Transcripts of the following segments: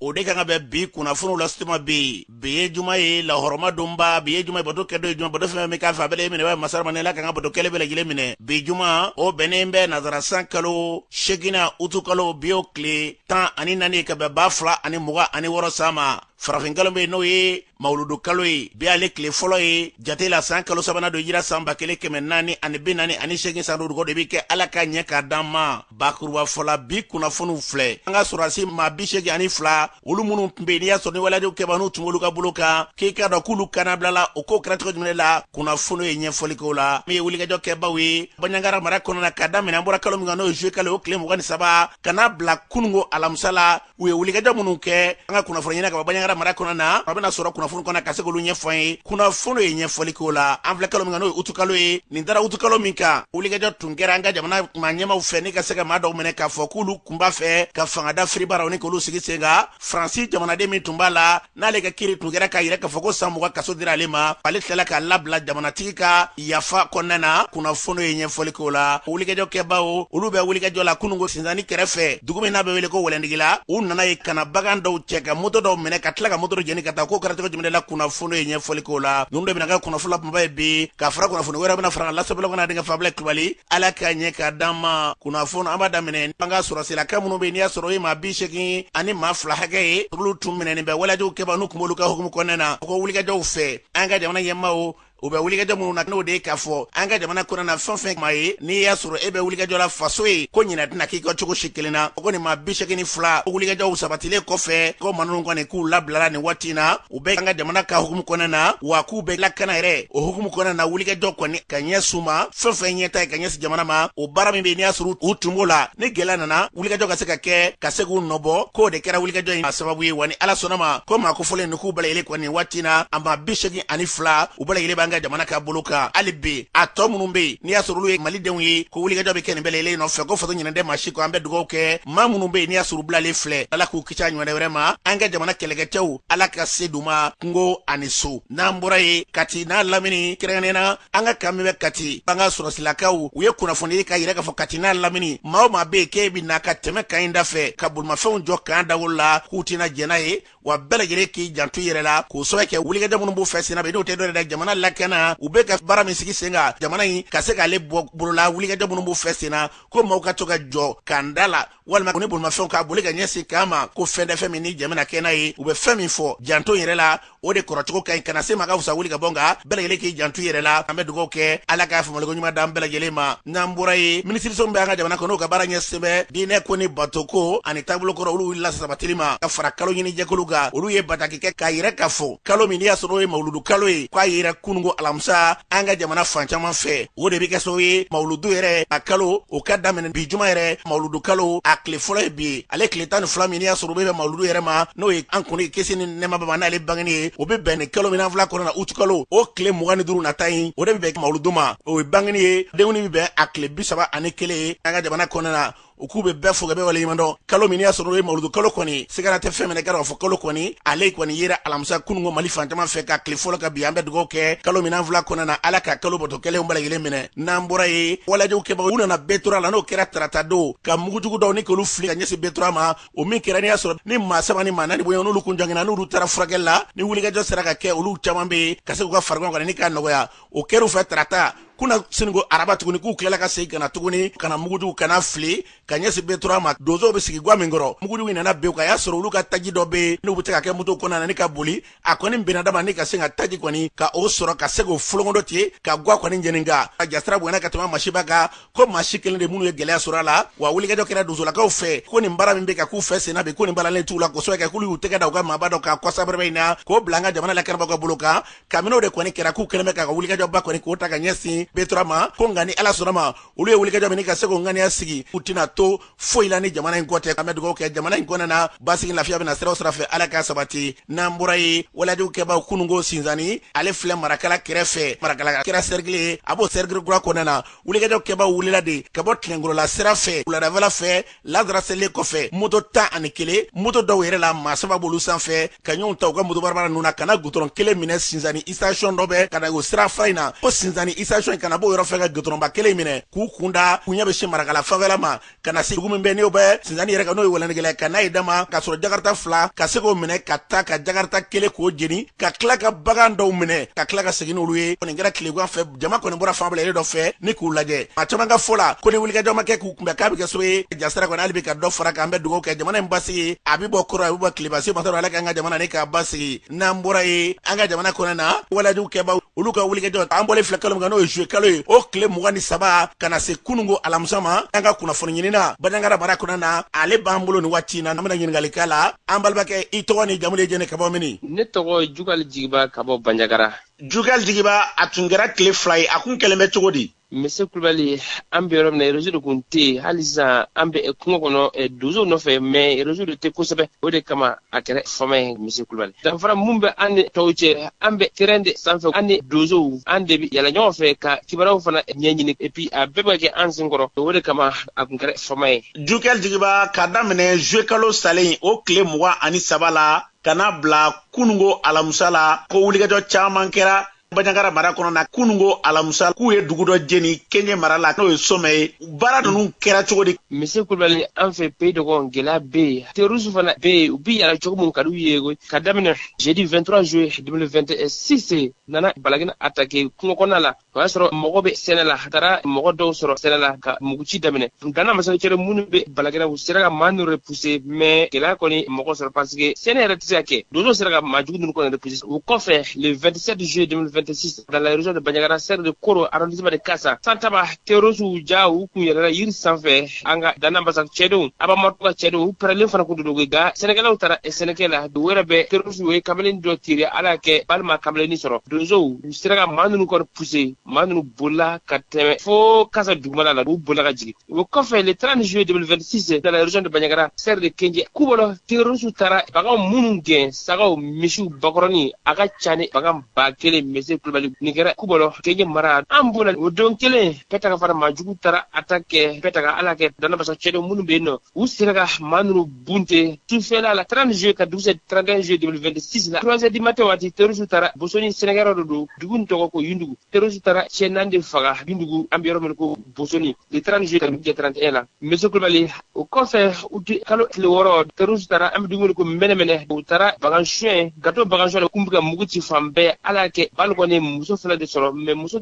o de kan ka bɛn bi kunnafoniw lase tuma bɛ yen bi ye juma ye lahɔrɔma donba bi ye juma ye bato kɛ don ye juma bato fɛn min k'a fɛ a bɛ e minɛ bɛ masa ramani ala k'an ka bato kɛlen bɛɛ lajɛlen minɛ bi juma o bɛnnen bɛ nazara san kalo seginan utu kalo bi o tile tan ani naani ka bɛn ba fila ani mugan ani wɔɔrɔ san ma farafinkalo bɛ n'o ye mawuludu kalo ye bi ale tile fɔlɔ ye jate la san kalo sabanan don hijira san ba kelen kɛmɛ naani ani bi naani ani seegin san dugawu de bɛ kɛ ala k'a ɲɛ k'a d'an ma bakuruba fɔla bi kunnafoniw filɛ an ka sɔrɔdasi maa bi seegin ani fila olu minnu tun bɛ yen n'i y'a sɔrɔ ni waleyajugu kɛba n'u tun b'olu ka bolo kan k'i k'a dɔn k'olu ka labilali o ko kɛra cogo jumɛn la kunnafoniw ye ɲɛfɔli k'o la min ye wulikajɔ kɛbaw ye baɲangara mara kɔnɔna na ka daminɛ an bɔra kalo min kan n'o ye zuye kalo o tile mugan ni saba ka n'a bila kununko alamisa la u ye wulikajɔ minnu kɛ an ka kunnafoni ɲini ka bɔ baɲangara mara kɔnɔ na a bɛna sɔrɔ kunnafoni kɔnɔ ka se k'olu ɲɛfɔ an ye kunnafoni ye ɲɛfɔli k'o la an filɛ kalo min kan n'o ye utukalo ye nin dara utukalo min kan wulikajɔ tun kɛra an ka jamana maa ɲɛmaw fɛ ni ka se ka maa dɔw minɛ k'a fɔ k'olu kun b'a fɛ ka fanga dafiri baaraw ni k'olu sigi sen kan faransi jamanaden min tun b'a la n'ale ka kiiri tun kɛra k'a yira k'a fɔ ko san mugan kaso dira ale ma ale tilala k'a labila jamanatigi ka yafa kɔnɔna na kunnafoniw ye ɲɛfɔli k'o la wulikajɔ kɛbaaw olu bɛ wulikajɔ la kununko sinsanni kɛrɛfɛ dugu min n'a bɛ wele ko wɛlɛndigila u nana yen ka na bagan dɔw cɛ ka moto dɔw minɛ ka tila ka moto dɔ jeni ka taa k'o kɛra cogo jumɛn la kunnafoniw ye ɲɛfɔli k'o la ninnu de bɛna kɛ kunnafoni la kumaba ye bi ka fara kunnafoni wɛrɛ bɛna fara lasabelɔgɔna denkɛ fabila kulubali ala k'a ɲɛ k'a d'an ma kunnafoni an b'a daminɛ an ka sɔrɔsilaka minnu bɛ n'i y'a sɔrɔ o ye maa bi segin ani maa fila hakɛ ye olu tun minɛnen bɛ waleyajugu kɛba n'u kun b'olu ka hukumu kɔnɔna na ko wulikajɔw fɛ an ka jamana ɲɛmaaw u bɛ wulikajɔ minnu na n'o de ye k'a fɔ an ka jamana kɔnɔna na fɛn fɛn maa ye n'i y'a sɔrɔ e bɛ wulikajɔ la faso ye ko ɲinɛ tɛna k'i kɔ cogo si kelen na ko nin maa bi segin ni fila wulikajɔw sabatilen kɔfɛ ko maa ninnu kɔni k'u labilala nin waati in na u bɛ an ka jamana ka hukumu kɔnɔna na wa k'u bɛ lakana yɛrɛ o hukumu kɔnɔna na wulikajɔ kɔni ka ɲɛsin u ma fɛn fɛn ɲɛtaa ye ka ɲɛsin jamana ma o baara min bɛ n'i y'a sɔrɔ u tun b'o la ni gɛlɛya nana wulikajɔ ka se ka kɛ ka se k'u nɔbɔ k'o de kɛra wulikajɔ in a sababu ye wa ni ala sɔnna ma ko maa kofɔlen ninnu k'u bɛɛ lajɛlen kɔni waati in na a maa bi segin ani fila u bɛɛ lajɛlen b'an ka jamana ka bolo kan hali bi a tɔ minnu bɛ yen n'i y'a sɔrɔ olu ye malidenw ye ko wulikajɔ bɛ kɛ nin bɛɛ lajɛlen nɔfɛ ko faso ɲinɛn tɛ maa si kɔ an bɛ dugawu kɛ maa minnu bɛ yen n'i y'a sɔrɔ u bilalen filɛ ala k'u kisi a ɲɔgɔnna wɛrɛ ma an ka jamana kɛlɛkɛcɛw ala ka se d'u ma kungo ani so n'an bɔra yen kati n'a lamini kɛrɛnkɛrɛnnenya an ka kan min bɛ kati an ka sɔrɔsilakaw u ye kunnafoni di k'a yira k'a fɔ kati n'a lamini maa o maa bɛ yen k'e bɛ na ka tɛmɛ kan in da fɛ ka bolimafɛnw jɔ kan dawolo la k'u tɛna jɛn n'a ye wa bɛɛ lajɛlen k'i janto i yɛrɛ la k'o sababu kɛ wulikajɔ minnu b'u fɛ senna bi n'o tɛ dɔ wɛrɛ ye jamana lakana u bɛ ka baara min sigi sen kan jamana in ka se k'ale bɔ bolola wulikajɔ minnu b'u fɛ senna ko maaw ka to ka jɔ kan da la walima ko ni bolimafɛnw ka boli ka ɲɛsin k'an ma ko fɛn tɛ fɛn min ni jɛmina kɛ n'a ye u bɛ fɛn min fɔ janto yɛrɛ la o de kɔrɔcogo ka ɲi kana se n ma ka fisa wuli ka bɔ n kan bɛɛ lajɛlen k'i janto yɛrɛ la an bɛ dugawu kɛ ala k'a faamuliko ɲuman d'an bɛɛ lajɛlen ma n'an bɔra yen minisiriso min bɛ an ka jamana kɔnɔ n'o ka baara ɲɛsin bɛ diinɛ ko ni bato ko ani taabolo kɔrɔ olu wulila sabatili ma ka fara kalo ɲini jɛkulu kan olu ye bataki kɛ k'a yira k'a fɔ kalo min n'i y'a sɔrɔ o ye mawuludu kalo ye k'a yera kununko alamisa an ka jamana fan caman fɛ o de bɛ kɛ sababu ye mawuludu yɛrɛ a kalo o ka daminɛ bi juma yɛrɛ mawuludu kalo a tile fɔlɔ ye bi ye ale tile tan ni fila min n'i y'a sɔrɔ o bɛ bɛn mawuludu yɛrɛ ma n'o ye an kuntigi kisi ni nɛɛma b'a ma n'ale bangeni ye o bɛ bɛn nin kalo min n'an filɛ a kɔnɔna na uti kalo o tile mugan ni duuru nata in o de bɛ bɛn mawuludu ma o ye bangeni ye denkundi bɛ bɛn a tile bi saba ani kelen ye an ka jamana kɔnɔna na u k'u bɛ bɛɛ fo ka bɛɛ waleɲumandɔn kalo min n'i y'a sɔrɔ o ye mawuludu kalo kɔni sigana tɛ fɛn min na k'a fɔ kalo kɔni ale kɔni yera alamisa kununko mali fan caman fɛ k'a tile fɔlɔ kɛ bi an bɛ dugawu kɛ kalo min n'an filɛ a kɔnɔna na ala ka kalo bato kɛlenw bɛɛ lajɛlen minɛ n'an bɔra yen walejugu kɛbagaw u nana betora la n'o kɛra tarata don ka mugujugu dɔw ni k'olu fili ka ɲɛsin betora ma o min kɛra n'i y'a sɔrɔ ni maa saba ni maa naani bɔɲɔgɔn n'olu kun joginna n'olu taara furakɛli la ni wulikajɔ sera ka kɛ olu caman bɛ yen ka se k'u ka farigan kɔni ni k'a nɔgɔya o kɛr'u fɛ tarata kunasiniko araba tuguni k'u tilala ka segin ka na tuguni ka na mugujugu ka na fili ka ɲɛsin betora ma donsow bɛ sigi ga min kɔrɔ mugujugu in nana bin ka y'a sɔrɔ olu ka taji dɔ bɛ n'u bɛ se ka kɛ moto kɔnɔna ni ka boli a kɔni bɛnna dama ni ka se ka taji kɔni ka o sɔrɔ ka se k'o folon dɔ ten ka ga kɔni jeni nka a jasiran bonyana ka tɛmɛ masiba kan ko maa si kelen tɛ minnu ye gɛlɛya sɔrɔ a la wa wulikajɔ kɛra donsolakaw fɛ ko nin baara min bɛ ka k'u fɛ sen bi ko nin balalen t'u la kosɛbɛ kɛ k'olu y'u tɛgɛ da u ka maaba dɔ kan kɔsa in na k'o bila an ka jamana lakanabagaw ka bolo kan kabini o de kɔni kɛra k'u kɛlen bɛ ka wulikajɔba kɔni k'o ta ka ɲɛsin betora ma ko nka ni ala sɔnna ma olu ye wulikajɔ min ka se k'o ŋaniya sigi u tɛna to foyi la ni jamana in kɔ tɛ an bɛ dugawu kɛ jamana in kɔnɔna na basigi lafiya bɛna sira o sira fɛ ala k'a sabati n'an bɔra yen walejugu kɛbaaw kununko sinzani ale filɛ marakala kɛrɛfɛ marakala kɛra sɛrikili ye a b'o sɛrikili kura kɔnɔna na wulikajɔ kɛbaaw wulila de ka bɔ tilengorola sira fɛ wuladafɛla fɛ lazara selen kɔfɛ moto tan ani kelen moto dɔw yɛrɛ la maa saba b'olu sanfɛ ka ɲɔgɔn ta u ka moto barabara ninnu na ka na gutɔrɔn kelen minɛ sinzani isitasiyɔn dɔ bɛ ka na o sirafara in na ko sinzani isitasiyɔn in ka na b'o yɔrɔ fɛ ka gutɔrɔnba kelen minɛ k'u kun da k'u ɲɛ bɛ sin marakala fanfɛla ma ka na se dugu min bɛ n'o bɛ sinzani yɛrɛ kan n'o ye wɛlɛntigila ka n'a ye dama ka sɔrɔ jakarita fila ka se k'o minɛ ka taa ka jakarita kelen k'o jeni ka tila ka bagan dɔw minɛ ka tila ka segin n'olu ye kɔni kɛra tilegan fɛ jama kɔni bɔra fanfɛla dɔ fɛ ni k'u lajɛ maa caman ka fɔ la ko ni wulikajɔ ma kɛ k'u kunbɛn k'a bɛ kɛ sababu ye jasiran kɔni hali bi ka dɔ fara kan an bɛ dugawu kɛ jamana in basigi a bɛ bɔ kɔrɔn a bɛ bɔ tilebin masa ala k'an ka jamana ni k'a basigi n'an bɔra yen an ka jamana kɔnɔ na walejugu kɛbaaw olu ka wulikajɔ an bɔlen filɛ kalo min kan n'o ye zuluye kalo ye o tile mugan ni saba ka na se kununko alamisa ma an ka kunnafoni ɲinina banjagara mara kɔnɔ na ale b'an bolo nin waati in na an bɛna ɲininkali k'a la an balimakɛ i tɔgɔ ni jamu de jɛnɛ ka bɔ mini ne tɔgɔ jugal jigiba ka bɔ banjagara jugal jigiba a tun kɛra tile fila ye a kun kɛlen bɛ cogo di mise kulubali an bɛ yɔrɔ min na rezo de kun tɛ yen hali sisan an bɛ eh, kungo kɔnɔ eh, donsow nɔfɛ mɛ rezo de tɛ kosɛbɛ o de kama a kɛra fama ye mise kulubali danfara min bɛ an ni tɔw cɛ an bɛ terɛn de sanfɛ an ni donsow an de bɛ yaala ɲɔgɔn fɛ ka kibaruyaw fana ɲɛɲini epi a bɛɛ bɛ kɛ an sen kɔrɔ o de kama a kun kɛra fama ye jugal jigiba ka daminɛ zuyekalo salen o tile mugan ani saba la ka n'a bila kunungo alamusa la ko wulikajɔ caaman kɛra banjagara mara kɔnɔ na kunungo alamusa k'u ye dugu dɔ jeni kenje mara la n'o ye somɛ ye baara ninnu kɛra cogo di mise kulubali an fɛ peyi dɔgɔn gɛlɛya bɛ yen terorisiw fana bɛ yen u bi yala cogo min ka di u ye ka daminɛ jeudi 23 juillet 2026 nana balagina atake kungokɔnɔna la o y'a sɔrɔ mɔgɔ bɛ sɛnɛ la a taara mɔgɔ dɔw sɔrɔ sɛnɛ la ka muguci daminɛ danabasa ka cɛdenw minnu bɛ balagina u sera ka maa ninnu repuse mɛ gɛlɛya kɔni mɔgɔ sɔrɔ pasike sɛnɛ yɛrɛ tɛ se ka kɛ donsow sera ka maa jugu ninnu kɔni repuse o kɔfɛ le 27 juillet 2026 dans la région de Bandiagara cercle de koro arrondissement de kasa santaba terrorisiw ja u kun yɛlɛla yiri sanfɛ nka danabasa ka cɛdenw abamatu ka cɛdenw u pɛrɛlen fana kun dogo nka sɛnɛkɛlaw taara sɛnɛkɛ la u yɛrɛ bɛ terrorisiw ye kamalen dɔ tire ala y'a kɛ bali ma kamalennin sɔrɔ donsow sera ka maa ninnu kɔni puse maa ninnu bolila ka tɛmɛ fo kasa dugumana la u bolila ka jigin o kɔfɛ le 30 juillet 2026 dans la région de Bandiagara cercle de kenje kubɔlɔ terrorisiw taara baganw minnu gɛn sagaw misiw bakɔrɔni a ka ca ni bagan ba kelen mese kulubali nin kɛra kubɔlɔ kenje mara an b'o la o don kelen pɛtaga fana maajuguw taara atake pɛtaga ala kɛ danabasa cɛdenw minnu bɛ yen nɔ u sera ka maa ninnu Bunte, sufɛla la 30 juillet ka dugu jɛ 31 juillet 2026 la 3 heures du matin waati terroriste taara Bosoni sɛnɛkɛyɔrɔ dɔ don dugunin tɔgɔ ko Yundugu terroriste taara cɛ naani de faga Yundugu an bɛ yɔrɔ min ko Bosoni le 30 juillet ka dugu jɛ 31 la Mese Kulubali o kɔfɛ uti kalo tile wɔɔrɔ terroriste taara an bɛ dugu min ko mɛnɛmɛnɛ u taara bagan suɲɛ k'a to bagan suɲɛ kun bɛ ka mugu ci fan bɛɛ ala y'a kɛ bali kɔni muso fana de sɔrɔ mais musow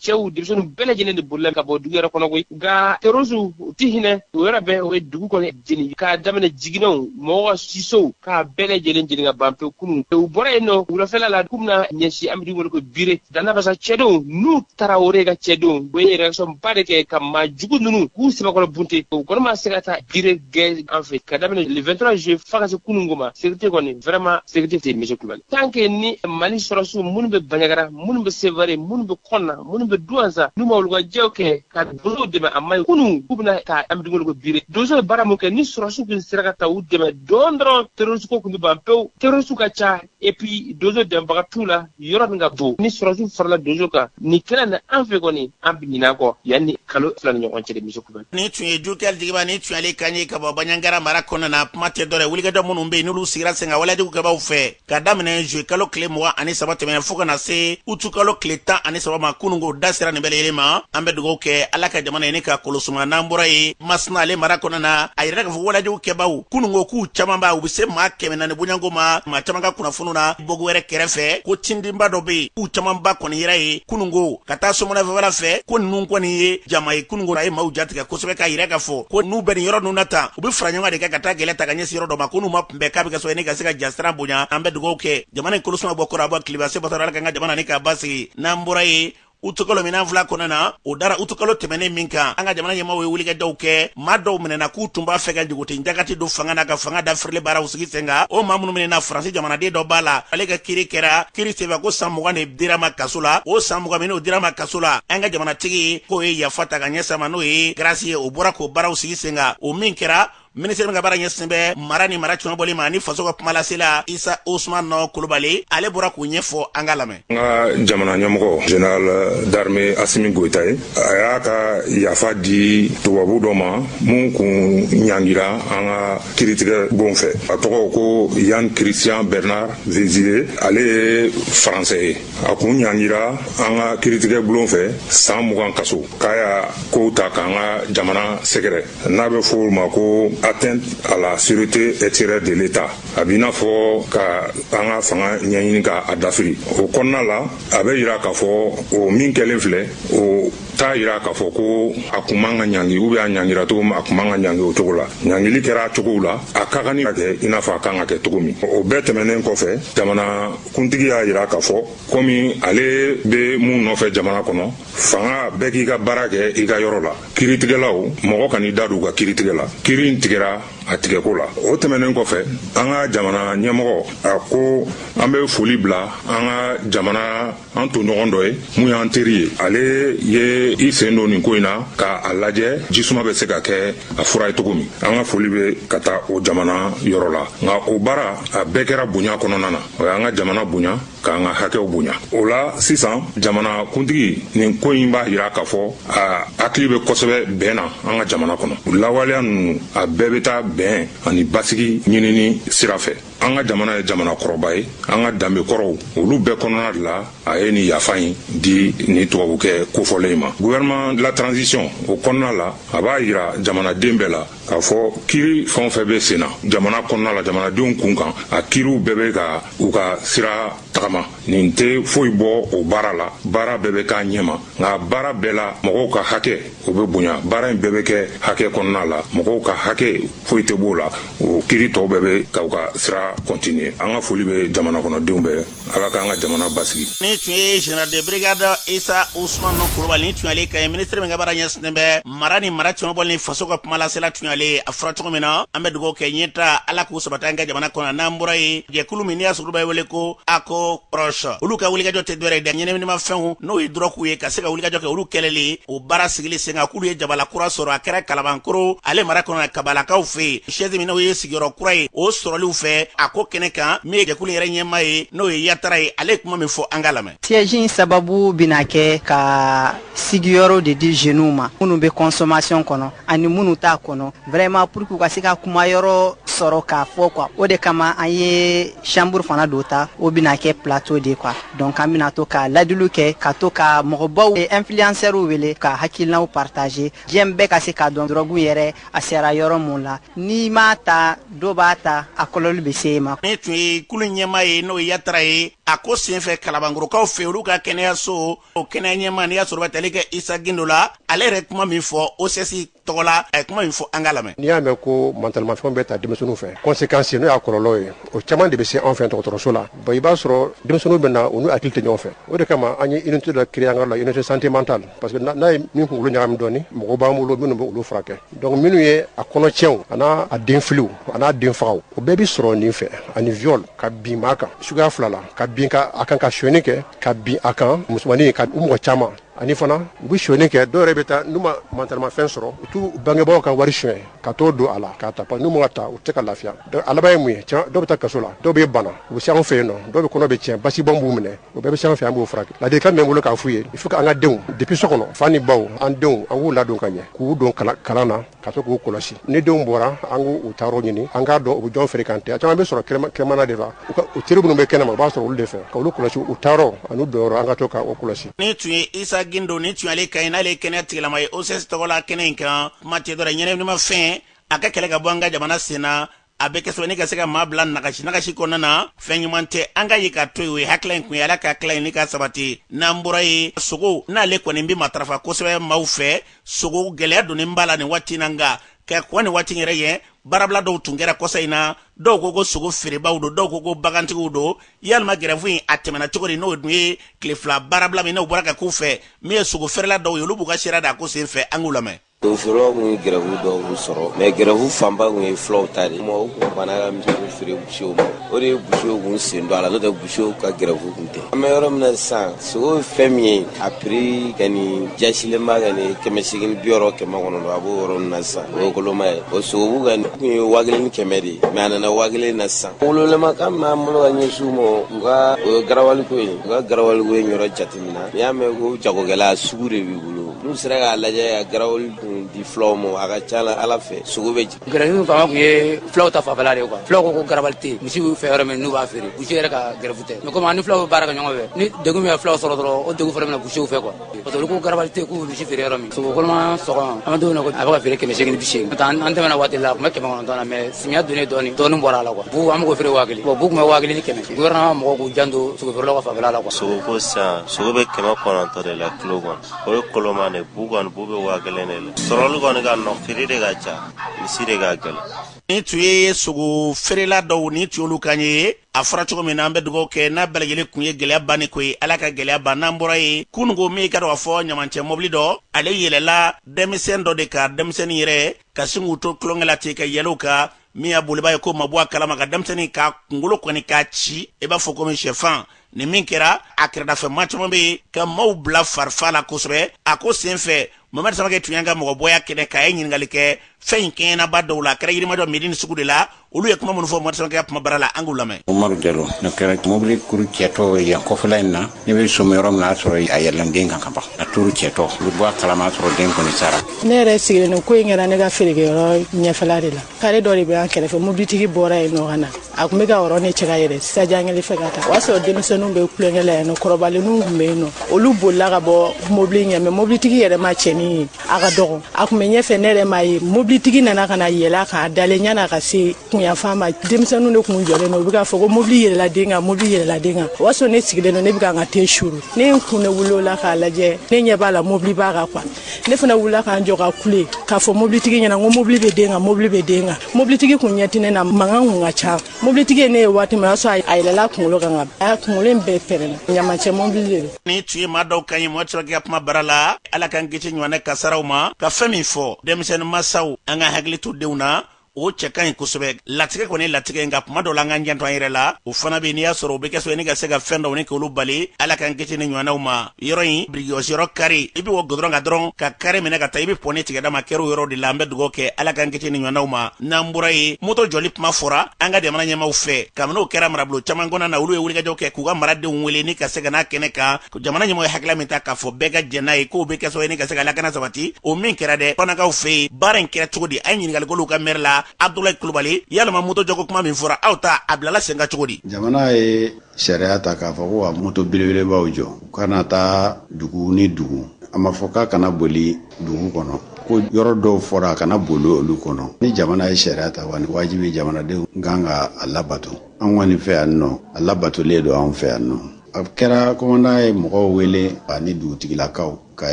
cɛw denmisɛnninw bɛɛ lajɛlen de bolila ka bɔ dugu yɛrɛ kɔnɔ koyi nka terorisiw u tɛ hinɛ o yɛrɛ bɛɛ u ye dugu kɔni jeni k'a daminɛ jiginɛw mɔgɔw ka sisow k'a bɛɛ lajɛlen jeni ka ban pewu kunun u bɔra yen nɔ wulafɛla la k'u bɛna ɲɛsin an bɛ dugu wele ko bire danabasa cɛdenw nu tarawore ka cɛdenw u ye réaction ba de kɛ ka maa jugu ninnu k'u sɛbɛkɔrɔ bunte o kɔni ma se ka taa bire gɛn an fɛ ka daminɛ le 23 juillet fo ka se kunun ko ma sekirite kɔni vraiment sekirite tɛ mise kulubali tant que ni mali sɔrɔsiw minnu bɛ banjagara minnu bɛ sevare minnu bɛ kɔnna minnu bɛ duwansa n'u ma wulikajɔw kɛ ka donsow dɛmɛ a maɲi kunu k'u bɛna taa an bɛ dugu wele ko bire donso ye baara min kɛ ni sɔrɔsiw tun sera ka taa u dɛmɛ dɔɔn dɔrɔn terroriste ko tun bɛ ban pewu terroriste ka ca et puis donso dɛmɛbaga t'u la yɔrɔ min ka bon ni sɔrɔsiw farala donso kan nin kɛnɛ na an fɛ kɔni an bɛ ɲinɛ a kɔ yanni kalo fila ni ɲɔgɔn cɛ de misi kubɛ nin tun ye jukɛli jigiba nin tun y'ale kan ye ka bɔ baɲagara mara kɔnɔna na kuma tɛ dɔ wɛrɛ wulikajɔ minnu bɛ yen n'olu sigira sen kan waleyajugu kɛbaaw fɛ ka daminɛ zuye kalo tile mugan ani saba tɛmɛnen fo ka na se utu kalo tile tan ani saba ma kununko da sera nin bɛɛ lajɛlen ma an bɛ dugaw kɛ ala ka jamana in nin k'a kolosuma n'an bɔra yen masina ale mara kɔnɔ na a yirala k'a fɔ walejugu kɛbaw kununko k'u camanba u bɛ se maa kɛmɛ naani bɔɲɔgɔnko ma maa caman ka kunnafoniw na bɔki wɛrɛ kɛrɛfɛ ko tindinba dɔ bɛ yen k'u camanba kɔni yera yen kununko ka taa somona fanfɛla fɛ ko ninnu kɔni ye jama ye kununko a ye maaw jatigɛ kosɛbɛ k'a yira k'a fɔ ko n'u bɛ nin yɔrɔ ninnu na tan u bɛ faraɲɔgɔnkan de kɛ ka taa kɛlɛ ta ka ɲɛsin yɔrɔ dɔ ma ko n'u ma kunbɛn k'a bɛ ka sɔrɔ ne ka se ka jasiran bonya an bɛ dugawu kɛ jamana in kolosuma bɔ kɔrɔn a bɔ tilebin sebatara ala k'an ka jamana nin k'a basigi n'an bɔra yen utukalo min n'an filɛ a kɔnɔna na o dara utukalo tɛmɛnen min kan an ka jamana ɲɛmaw ye wulikajɔw kɛ maa dɔw minɛna k'u tun b'a fɛ ka jugutin jagati don fanga na ka fanga dafirili baaraw sigi sen kan o maa minnu minɛna faransi jamanaden dɔ b'a la ale ka kiri kɛra kiri senfɛ ko san mugan de dira a ma kaso la o san mugan min n'o dira a ma kaso la an ka jamanatigi k'o ye yafa ta ka ɲɛsin a ma n'o ye garasi ye o bɔra k'o baaraw sigi sen kan o min kɛra minisiri min ka baara ɲɛsinnen bɛ mara ni mara cɛmabɔli ma ni faso ka kumalasela isa usmani kulubali ale bɔra k'o ɲɛfɔ an k'a lamɛn an ka jamana ɲɛmɔgɔ général d'armée asimi goyita ye a y'a ka yafa di tubabu dɔ ma min kun ɲangira an ka kiritigɛ bulon fɛ a tɔgɔ ko yann christian bernard vezilier ale ye faransɛ ye a kun ɲangira an ka kiritigɛ bulon fɛ san mugan kaso k'a y'a kow ta k'an ka jamana sɛgɛrɛ n'a bɛ fɔ o ma ko atteinte à la sûreté extérieure de l'État a b'i n'a fɔ ka an ka fanga ɲɛɲini ka a dafiri o kɔnɔna la a bɛ yira k'a fɔ o min kɛlen filɛ o t'a yira k'a fɔ ko a kun man ka ɲangi ou bien a ɲangira cogo min a kun man ka ɲangi o cogo la ɲangili kɛra a cogow la a ka kan ni ka kɛ i n'a fɔ a kan ka kɛ cogo min o bɛɛ tɛmɛnen kɔfɛ jamana kuntigi y'a yira k'a fɔ komi ale bɛ mun nɔfɛ jamana kɔnɔ fanga bɛɛ k'i ka baara kɛ i ka yɔrɔ la kiritigɛlaw mɔgɔ kan'i da don u ka kiritigɛ la kiri in tigɛra a tigɛko la o tɛmɛnen kɔfɛ an ka jamana ɲɛmɔgɔ a ko an bɛ foli bila an ka jamana an tɔɲɔgɔn dɔ ye min y'an teri ye ale ye i sen don nin ko in na ka a lajɛ jisuma bɛ se ka kɛ a fura ye cogo min an ka foli bɛ ka taa o jamana yɔrɔ la nka o baara a bɛɛ kɛra bonya kɔnɔna na o y'an ka jamana bonya k'an ka hakɛw bonya o la sisan jamana kuntigi nin ko in b'a jira k'a fɔ a hakili bɛ kosɛbɛ bɛn na an ka jamana kɔnɔ lawaleya ninnu a bɛɛ bɛ taa bɛn ani basigi ɲinini sira fɛ an ka jamana ye jamana kɔrɔba ye an ka danbe kɔrɔw olu bɛɛ kɔnɔna de la a ye nin yafa in di nin tubabukɛ kofɔlen ma gouvernement de la transition o kɔnɔna la a b'a jira jamanaden bɛɛ la k'a fɔ kiri fɛn o fɛn bɛ sen na jamana kɔnɔna la jamanadenw kun kan a kiriw bɛɛ bɛ ka u ka sira tagama nin tɛ foyi bɔ o baara la baara bɛɛ bɛ k'a ɲɛma nka baara bɛɛ la mɔgɔw ka hakɛ o bɛ bonya baara in bɛɛ bɛ kɛ hakɛ kɔnɔna la mɔgɔw ka hakɛ foyi tɛ b'o la o kiri tɔw bɛɛ bɛ ka u ka sira continuer an ka foli bɛ jamana kɔnɔdenw bɛɛ ala k'an ka jamana basigi nin tun ye général de brigade isa usman kulubali nin tun y'ale kan ye minisiri min ka baara ɲɛsinnen bɛ mara ni mara cɛmabɔli ni faso ka kumalasela tun y'ale a fɔra cogo min na an bɛ dugawu kɛ ɲɛtaa ala k'u sabati an ka jamana kɔnɔ n'an bɔra yen jɛkulu min n'i y'a sɔrɔ a bɛ wele ko aco proche olu ka wulikajɔ tɛ dɔwɛrɛ ye dɛ ɲɛnaminimafɛnw n'o ye dɔrɔguw ye ka se ka wulikajɔ kɛ olu kɛlɛli o baara sigili sen kan k'olu ye jabala kura sɔrɔ a kɛra kalabankoro ale mara kɔnɔ kabalakaw fɛ yen siège min n'o ye sigiyɔrɔ kura ye o sɔrɔliw fɛ a ko kɛnɛ kan min ye jɛkulu yɛrɛ ɲɛmaa ye n'o ye yatara ye ale ye kuma min fɔ an k'a lamɛn siège in sababu bɛna kɛ ka sigiyɔrɔ de di jeunes ma minnu bɛ consommation kɔnɔ ani minnu t'a kɔnɔ vraiment pour que u ka se ka kuma yɔrɔ sɔrɔ k'a fɔ quoi o de kama an ye chambre fana dɔ ta o bɛna kɛ plateau de quoi donc an bɛna to ka ladiliw kɛ ka to ka mɔgɔbaw influenceurs wele ka hakilinaw partager diɲɛ bɛɛ ka se k'a dɔn drogue yɛrɛ a sera yɔrɔ min la n'i m'a ta dɔ b'a ta a kɔlɔlɔ bɛ se e ma nin tun ye kulu ɲɛmaa ye n'o ye yatara ye a ko senfɛ kalabankorokaw fɛ olu ka kɛnɛyaso o kɛnɛya ɲɛmaa n'i y'a sɔrɔ a bɛ tali kɛ isa gindo la ale yɛrɛ kuma min fɔ ocs tɔgɔ la a ye kuma min fɔ an k'a lamɛn n'i y'a mɛn ko mantalimafɛnw bɛ ta denmisɛnninw fɛ conséquence n'o y'a kɔlɔlɔ ye o caman de bɛ se anw fɛ dɔgɔtɔrɔso la bon i b'a sɔrɔ denmisɛnninw bɛ na u n'u hakili tɛ ɲɔgɔn fɛ o de kama an ye unité dɔ créer an ka yɔrɔ la unité santé mentale parce que n'a ye min kunkolo ɲagami dɔɔni mɔgɔ b'an bolo minnu bɛ olu furakɛ donc minnu ye a kɔnɔcɛnw an'a denfiliw an'a denfagaw o bɛɛ bɛ sɔrɔ nin fɛ ani viol ka bin maa kan suguya fila la ka bin a kan ka sonyani kɛ ka bin a kan musomannin ka u mɔgɔ caman ani fana u bɛ sonyani kɛ dɔw yɛrɛ bɛ taa n'u ma mantalimafɛn sɔrɔ u t'u bangebaaw ka wari sonya ka t'o don a la k'a ta n'u m'a ta u tɛ se ka lafiya donc a laban ye mun ye dɔw bɛ taa kaso la dɔw bɛ bana u bɛ se anw fɛ yen nɔ dɔw bɛ kɔnɔ bɛ tiɲɛ basibɔn b'u minɛ o bɛɛ bɛ se an fɛ an b'o furakɛ ladilikan bɛ n bolo k'a f'u ye il faut que an ka denw depuis so kɔnɔ fa ni baw an denw an k'u ladon ka ɲɛ k'u don kalan na ka to k'u kɔlɔsi ni denw bɔra an k'u taayɔrɔ ɲini an k'a dɔn u bɛ jɔn fréquenter a caman bɛ sɔrɔ kɛnɛmana de la u teri minnu bɛ kɛnɛma u b'a sɔrɔ olu de fɛ ka olu kɔlɔsi u taayɔrɔ ani u donyɔrɔ an ka to k'o kɔlɔsi nin tun ye isa gindo nin tun y'ale kan ye n'ale ye kɛnɛya tigilamaa ye ocs tɔgɔ la kɛnɛ in kan kuma tɛ dɔwɛrɛ ɲɛnaminimafɛn a ka kɛlɛ ka bɔ an ka jamana sen na a bɛ kɛ sɛbɛnni ka se ka maa bila nagasi nagasi kɔnɔna na fɛn ɲuman tɛ an ka ye ka to yen o ye hakilila in kun ye ala ka hakilila in ni ka sabati n'an bɔra ye sogo n'ale kɔni bɛ matarafa kosɛbɛ maaw fɛ sogo gɛlɛya donnen b'a la nin waati na nka ka kɔn nin waati yɛrɛ ye baarabila dɔw tun kɛra kɔsa in na dɔw ko ko sogo feerebaw don dɔw ko ko bagantigiw don yalima gɛrɛfu in a tɛmɛna cogo di n'o dun ye tile fila baarabila min n'o bɔra ka k'u fɛ min ye sogo feerela dɔw ye olu b'u ka sira d'a ko sen fɛ an k'u lamɛn o feerelaw tun ye gɛrɛfu dɔw b'u sɔrɔ mɛ gɛrɛfu fanba tun ye fulaw ta de mɔgɔw tun banna ka misi feere busiw ma o de ye busiw kun sen don a la n'o tɛ busiw ka gɛrɛfu tun tɛ an bɛ yɔrɔ min na sisan sogo ye fɛn min ye a piri kɔni jasilenba kɔni kɛmɛ segin ni bi wɔɔrɔ kɛmɛ kɔnɔntɔn a b'o yɔrɔ min na sisan o ye koloma ye o sogobu kɔni tun ye waa kelen ni kɛmɛ de ye mɛ a nana waa kelen na sisan gouvernement kan min b'an bolo ka ɲɛsin u ma u ka o ye garawali ko ye u ka garawali ko ye yɔrɔ jate n'i y'a mɛn ko jagokɛla sugu de b'i bolo n'u sera k'a lajɛ ka garawali kun di fulaw ma a ka ca la ala fɛ sogo bɛ jigin gɛrɛfu fanba tun ye fulaw ta fanfɛla de ye kuwa fulaw ko ko garabali tɛ yen misi b'u fɛ yɔrɔ min n'u b'a feere busi yɛrɛ ka gɛrɛfu tɛ mɛ komi an ni fulaw bɛ baara kɛ ɲɔgɔn fɛ ni degun min ye fulaw sɔrɔ dɔrɔn o degun fana bɛ na busiw fɛ kuwa parce que olu ko garabali tɛ yen k'u bɛ misi feere yɔrɔ min sogo koloma sɔgɔ an bɛ don min na a bɛ ka feere kɛmɛ seegin ni bi seegin n'o tɛ an tɛmɛna waati la a tun bɛ kɛmɛ kɔnɔntɔn na mɛ samiya donnen dɔɔni dɔɔni bɔra a la kuwa bu an bɛ k'o feere waa kelen bɔn bu tun bɛ waa kelen ni kɛmɛ gouvernement mɔgɔw k'u janto sogo feerelaw ka fanfɛla la kuwa sogo ko sisan sogo bɛ kɛmɛ kɔnɔntɔn de la kilo kɔnɔ o ye koloma de bu kɔni bu bɛ waa kelen de la sɔrɔli kɔni ka nɔ feere de ka ca misi de ka gɛlɛn nin tun ye sogo feerela dɔw nin tun y'olu kan ye a fɔra cogo min na an bɛ dugawu kɛ n'a bɛɛ lajɛlen kun ye gɛlɛya banni ko ye ala ka gɛlɛya ban n'an bɔra ye kununko min i k'a dɔn k'a fɔ ɲamancɛ mɔbili dɔ ale yɛlɛla denmisɛn dɔ de kan denmisɛnnin yɛrɛ ka sin k'u to tulonkɛ la ten ka yɛlɛ u kan min y'a boliba ye k'o ma bɔ a kalama ka denmisɛnnin ka kunkolo kɔni k'a ci i b'a fɔ komi sɛfan nin min kɛra a kɛrɛdafɛma caman bɛ yen ka maaw bila farifa la kosɛbɛ a ko senfɛ mamari samakɛ tun y'an ka mɔgɔbɔ y'a kɛnɛ kan a ye ɲininkali kɛ fɛn in kɛɲɛnaba dɔw la kɛra yirimajɔ medini sugu de la olu ye kuma minnu fɔ mamari samakɛ ka kuma bara la an k'u lamɛn umaru jalo nin kɛra mobili kuru cɛtɔ yan kɔfɛla in na ne bɛ somi yɔrɔ min na a sɔrɔ a yɛlɛlen den kan ka ban a kuru cɛtɔ u bɛ bɔ a kalama sɔrɔ den kɔni sara ne yɛrɛ sigilen ko in kɛra ne ka feerekɛyɔrɔ ɲɛfɛla de la kare dɔ de bɛ an kɛrɛfɛ mobilitigi bɔra yen nɔ ka na a tun bɛ ka yɔrɔ ne cɛ ka yɛrɛ sajangɛli fɛ ka taa o y'a sɔrɔ denmisɛnninw bɛ tulonkɛ la yan nɔ kɔrɔbalenninw tun bɛ yen nɔ olu bolila ka bɔ mobili ɲɛ mɛ mobilitigi yɛrɛ ma cɛnin ye a ka dɔgɔ a tun bɛ ɲɛfɛ ne yɛrɛ m'a ye mobilitigi nana ka na yɛlɛ k'a dalen yan'a ka se kunyanfan ma denmisɛnninw de tun jɔlen don u bɛ k'a fɔ ko mobili yɛlɛla den kan mobili yɛlɛla den kan o y'a sɔrɔ ne sigilen don ne bɛ ka n ka te suru ne ye n kun ne wuli o la k'a lajɛ ne ɲɛ b'a la mobili b'a kan kuwa ne fana wulila ka n jɔ ka kule k'a fɔ mobilitigi ɲɛna ko mobili bɛ den kan mobili bɛ den kan mobilitigi kun ɲɛ tɛ ne na mankan kun ka ca mobilitigi ye ne ye waati min o y'a sɔrɔ a yɛlɛla kunkolo kan ka a kunkolo in bɛɛ pɛrɛnna ɲamancɛ mobili de don nin tun ye maa dɔw kan ye mamari samakɛ ka kuma bara la ala k'an kisi ɲɔgɔnna kasaraw ma ka fɛn min fɔ denmisɛnnin masaw an ka hakili to denw na o cɛ ka ɲi kosɛbɛ latigɛ kɔni latigɛ nka kuma dɔ la an k'an janto an yɛrɛ la o fana bɛ n'i y'a sɔrɔ o bɛ kɛ sababu ye ni ka se ka fɛn dɔw ni k'olu bali ala k'an kisi ni ɲɔgɔnnaw ma yɔrɔ in birikigosiyɔrɔ kari i bɛ bɔ gudɔrɔn kan dɔrɔn ka kari minɛ ka taa i bɛ pɔni tigɛda ma kɛr'o yɔrɔ de la an bɛ dugawu kɛ ala k'an kisi ni ɲɔgɔnnaw ma n'an bɔra yen moto jɔli kuma fɔra an ka jamana ɲɛmaaw fɛ kabini o kɛra marabolo caman kɔnɔna na olu ye wulikajɔ kɛ k'u ka maradenw wele ni ka se ka n'a kɛnɛ kan o jamana ɲɛmɔgɔ ye hakilila min ta k'a fɔ bɛɛ ka jɛn n'a ye k'o bɛ kɛ sababu ye ni ka se ka lakana sabati o min kɛra dɛ fanakaw fɛ yen baara in kɛra cogo di an ye ɲininkali k'olu ka mɛri la abdulayi kulubali yalama moto jɔko kuma min fɔra aw ta a bilala sen kan cogo di jamana ye sariya ta k'a fɔ ko ka moto belebelebaw jɔ u kana taa dugu ni dugu a ma fɔ k'a kana boli dugu kɔnɔ ko yɔrɔ dɔw fɔra a kana boli olu kɔnɔ ni jamana ye sariya ta kɔni wajibi jamanadenw kan ka a labato an kɔni fɛ yan nɔ a labatolen don anw fɛ yan nɔ a kɛra kɔmandan ye mɔgɔw wele ani dugutigilakaw ka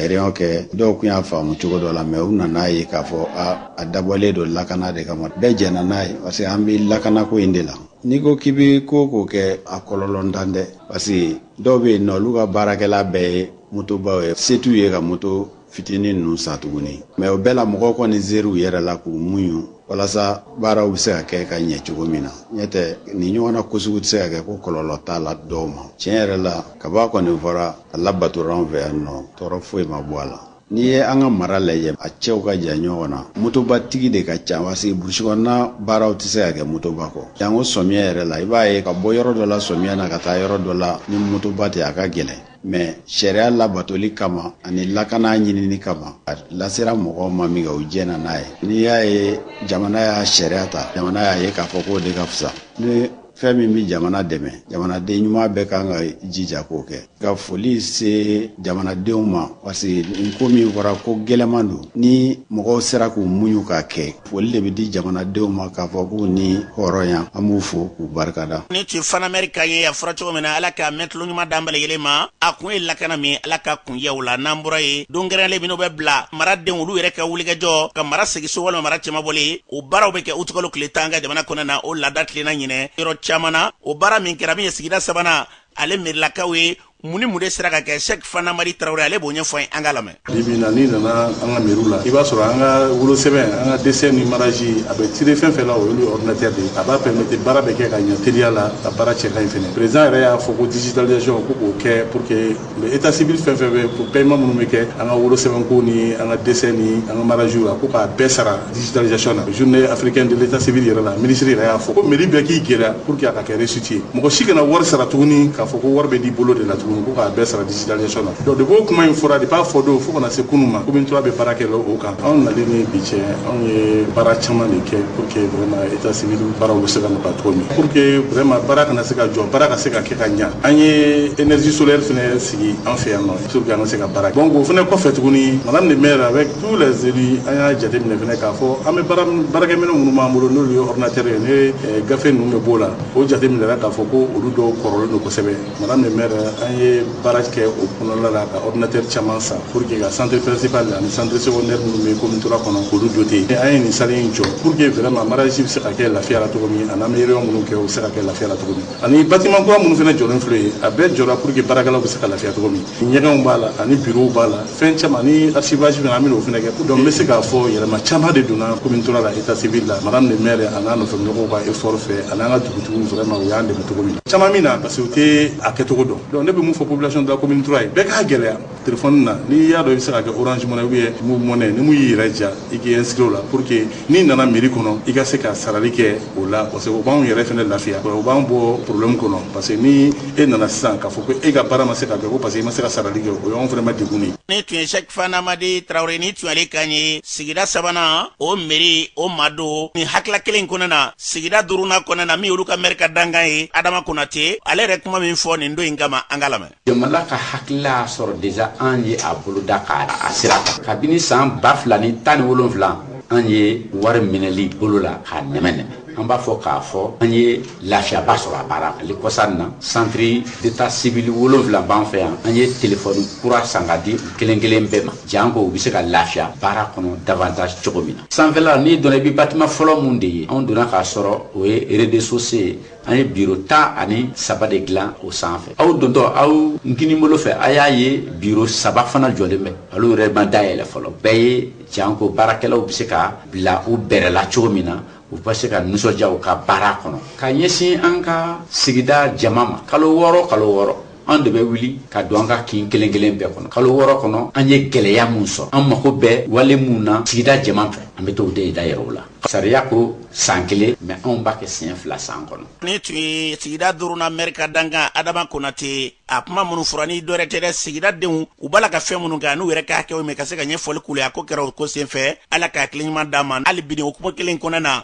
réunion kɛ dɔw tun y'a faamu cogo dɔ la mais u nana a ye k'a fɔ a dabɔlen don lakana de kama bɛɛ jɛna n'a ye parce que an bɛ lakanako in de la n'i ko k'i bɛ ko o ko kɛ a kɔlɔlɔntan tɛ parce que dɔw bɛ yen nɔ olu ka baarakɛlan bɛɛ ye motobaw ye se t'u ye ka moto fitinin ninnu san tuguni mais o bɛɛ la mɔgɔw kɔni ser'u yɛrɛ la k'u muɲu walasa baaraw bɛ se ka kɛ ka ɲɛ cogo min na ɲɛ tɛ nin ɲɔgɔnna ko sugu tɛ se ka kɛ ko kɔlɔlɔ t'a la dɔw ma tiɲɛ yɛrɛ la kab'a kɔni fɔra a labatora an fɛ yan nɔ tɔɔrɔ foyi ma bɔ a la n'i ye an ka mara lajɛ a cɛw ka jan ɲɔgɔn na motobatigi de ka ca parce que burusi kɔnɔna baaraw tɛ se ka kɛ motoba kɔ janko sɔmiya yɛrɛ la i b'a ye ka bɔ yɔrɔ dɔ la sɔmiya na ka taa yɔrɔ dɔ la ni motoba tɛ a ka gɛlɛn mais sariya labatoli kama ani lakana ɲinini kama a lasera mɔgɔw ma minkɛ u jɛna n'a ye n'i y'a ye jamana y'a sariya ta jamana y'a ye k'a fɔ k'o de ka fisa ni fɛn min bɛ jamana dɛmɛ jamanaden ɲuman bɛɛ kan ka jija k'o kɛ ka foli se jamanadenw ma parce que nin ko min fɔra ko gɛlɛman don ni mɔgɔw sera k'u muɲu k'a kɛ foli de bɛ di jamanadenw ma k'a fɔ k'u ni hɔrɔnya an b'u fo k'u barikada nin tun ye fana mɛri kan ye a fɔra cogo min na ala ka mɛntulo ɲuman d'an bɛɛ lajɛlen ma a kun ye lakana min ala ka kun ye o la n'an bɔra yen don kɛrɛnlen minnu bɛ bila maradenw olu yɛrɛ ka wulikajɔ ka mara segiso walima mara cɛmabɔli o baaraw bɛ kɛ utikalo tile tan an ka jamana kɔnɔna na o laada tilenna ɲinan yɔrɔ caman na o baara min kɛra min ye sigida sabanan ale mɛrilakaw ye mun ni mun de sera ka kɛ sɛki fantamadi tarawele ale b'o ɲɛfɔ ye an k'a lamɛn bi bi in na n'i nana an ka mɛriw la i b'a sɔrɔ an ka wolosɛbɛn an ka desɛ ni maraji a bɛ tire fɛn fɛn la o y'olu ordinateur de ye a b'a permettre baara bɛ kɛ ka ɲɛ teliya la ka baara cɛ ka ɲi fɛnɛ président yɛrɛ y'a fɔ ko digitalisation ko k'o kɛ pour que le état civil fɛn fɛn bɛ pour paiement minnu bɛ kɛ an ka wolosɛbɛnko ni an ka desɛ ni an ka marajiw la ko k'a bɛɛ sara digitalisation na journée africaine de l'état civil yɛrɛ la ministre yɛrɛ y'a fɔ ko mairie bɛɛ k'i gɛlɛya pour que a ka kɛ réussite ye mɔgɔ si kana wari sara tuguni k'a fɔ ko wari bɛ di bolo de la tuguni ko k'a bɛɛ sara digitalisation na donc depuis o kuma in fɔra depuis a fɔ don fo kana se kunu ma commune trois bɛ baara kɛ o kan anw nalen ni bi cɛ anw ye baara caman de kɛ pour que vraiment état civil baaraw bɛ se ka nɔgɔya cogo min pour que vraiment baara kana se ka jɔ baara ka se ka kɛ ka ɲa an ye énergie solaire fɛnɛ sigi an fɛ yan nɔ pour que an ka se ka baara donc o fana kɔfɛ tuguni madame le maire avec tous les élus an y'a jateminɛ fana k'a fɔ an bɛ baarakɛminɛn minnu b'an bolo n'olu ye ordinateur ye ni eh, gafe ninnu bɛ b'o la o jateminɛra k'a fɔ ko olu dɔw kɔrɔlen don kosɛbɛ madame le maire an ye baara kɛ o kɔnɔna la ka ordinateur caman san pour que ka centre principal ani centre secondaire minnu bɛ commune trois kɔnɔ k'olu doter an ye nin salle in jɔ pour que vraiment mariage bɛ se ka kɛ lafiya la cogo min ani an bɛ réunion minnu kɛ o bɛ se ka kɛ lafiya la cogo min ani bâtiment kura minnu fana jɔlen filɛ ye a bɛɛ jɔra pour que baarakɛlaw bɛ se ka lafiya cogo min ɲɛgɛnw b'a la ani bureau b'a la fɛn caman ani archivage fana an bɛ n'o fana kɛ donc n bɛ se k'a fɔ yɛlɛma caman de donna commune trois la état civil la madame le maire a n'a nɔfɛmɔgɔw ka effort fɛ an'an ka dugutigiw vraiment u y'an dɛmɛ cogo min caman min na parce que u tɛ a kɛcogo dɔn donc ne bɛ mun fɔ population de la commune trois ye bɛɛ k'a gɛlɛya telefɔni na n'i y'a dɔn i bɛ se ka kɛ orange money ou bien moov money ni min y'i yɛrɛ diya i k'i inscrire o la pour que n'i nana mairie kɔnɔ i ka se ka sarali kɛ o la parce que o b'anw yɛrɛ fana lafiya o b'an bɔ problème kɔnɔ parce que ni e nana sisan k'a fɔ ko e ka baara ma se ka kɛ ko parce que i ma se ka sarali kɛ o y'anw fana ma dɛgun de ye. nin tun ye sɛki fantamadi tarawele nin tun y'ale kan ye sigida sabanan o mɛri o ma don nin hakila kelen kɔnɔ na sigida duruna kɔnɔ na min olu ka mɛri ka dankan ye adama konate ale yɛrɛ kuma min fɔ nin don in kama an ka lamɛn jamana ka hakilila y'a sɔrɔ déjà an ye a boloda k'a sira ta kabini san ba fila ni tan ni wolonfila an ye wari minɛli bolo la k'a nɛmɛ nɛmɛ an b'a fɔ k'a fɔ an ye lafiyaba sɔrɔ a baara hali kɔsa in na centre d'état civil wolonfila b'an fɛ yan an ye telefɔni kura san ka di kelen kelen bɛɛ ma janko u bɛ se ka lafiya baara kɔnɔ davantage cogo min na sanfɛla n'i donna i bɛ bâtiment fɔlɔ min de ye anw donna k'a sɔrɔ o ye rez-de-chaussée ye an ye biro tan ani saba de dilan o sanfɛ aw dontɔ aw kininbolo fɛ a y'a ye biro saba fana jɔlen bɛ olu yɛrɛ ma dayɛlɛ fɔlɔ bɛɛ ye janko baarakɛlaw bɛ se ka bila u bɛrɛ la cogo min na u bɛ se ka nisɔndiya u ka baara kɔnɔ ka ɲɛsin an ka sigida jama ma kalo wɔɔrɔ kalo wɔɔrɔ an de bɛ wuli ka don an ka kin kelen kelen bɛɛ kɔnɔ kalo wɔɔrɔ kɔnɔ an ye gɛlɛya min sɔrɔ an mako bɛ wale minnu na sigida jama fɛ an bɛ t'o de dajira u la sariya ko san kelen mais anw b'a kɛ siɲɛ fila san kɔnɔ nin tun ye sigida duruna mɛri ka dankan adama konate a kuma minnu fɔra nin dɔ wɛrɛ tɛ dɛ sigida denw u b'a la ka fɛn minnu kɛ n'u yɛrɛ ka hakɛw mɛn ka se ka ɲɛfɔli k'olu ye a ko kɛra o ko senfɛ ala ka hakili ɲuman d'a ma hali bi nin o kuma kelen kɔnɔna na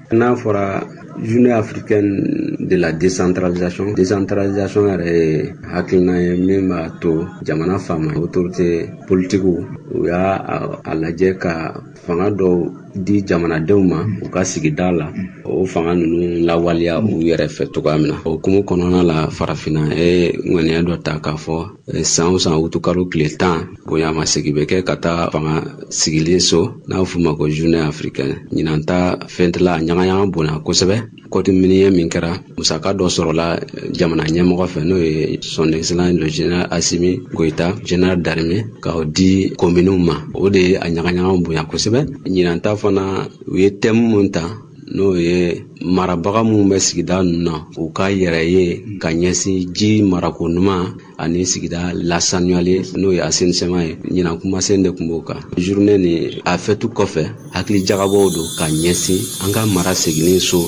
N'a fɔra journée africaine de la décentralisation décentralisation yɛrɛ ye hakilina ye min b'a to jamana faama autorité politique u y'a a lajɛ ka fanga dɔw di jamanadenw ma u ka sigida la o fanga ninnu lawaleya u yɛrɛ fɛ cogoya min na o hukumu kɔnɔna la farafinna ye ŋaniya dɔ ta k'a fɔ Eh, san o san wutukalo tile tan bonyamasegin bɛ kɛ ka taa fanga sigilen so n'a f'u ma ko journée africaine ɲinan ta fɛti la a ɲagaɲaga bonya kosɛbɛ kɔti miniɲɛ min kɛra musaka dɔ sɔrɔla eh, jamana ɲɛmɔgɔ fɛ n'o ye son excellence le général Assimi Goïta général d'armée ka o di kominiw ma o de ye a ɲagaɲaga bonya kosɛbɛ ɲinan ta fana u ye tɛmu mun ta n'o ye marabaga minnu bɛ sigida ninnu na u ka yɛrɛ ye ka ɲɛsin ji marako ɲuman ani sigida lasaniyali n'o ye assainissement ye ɲinan kumasen de tun b'o kan journée nin a fɛtu kɔfɛ hakili jagabɔ don ka ɲɛsin an ka mara seginni so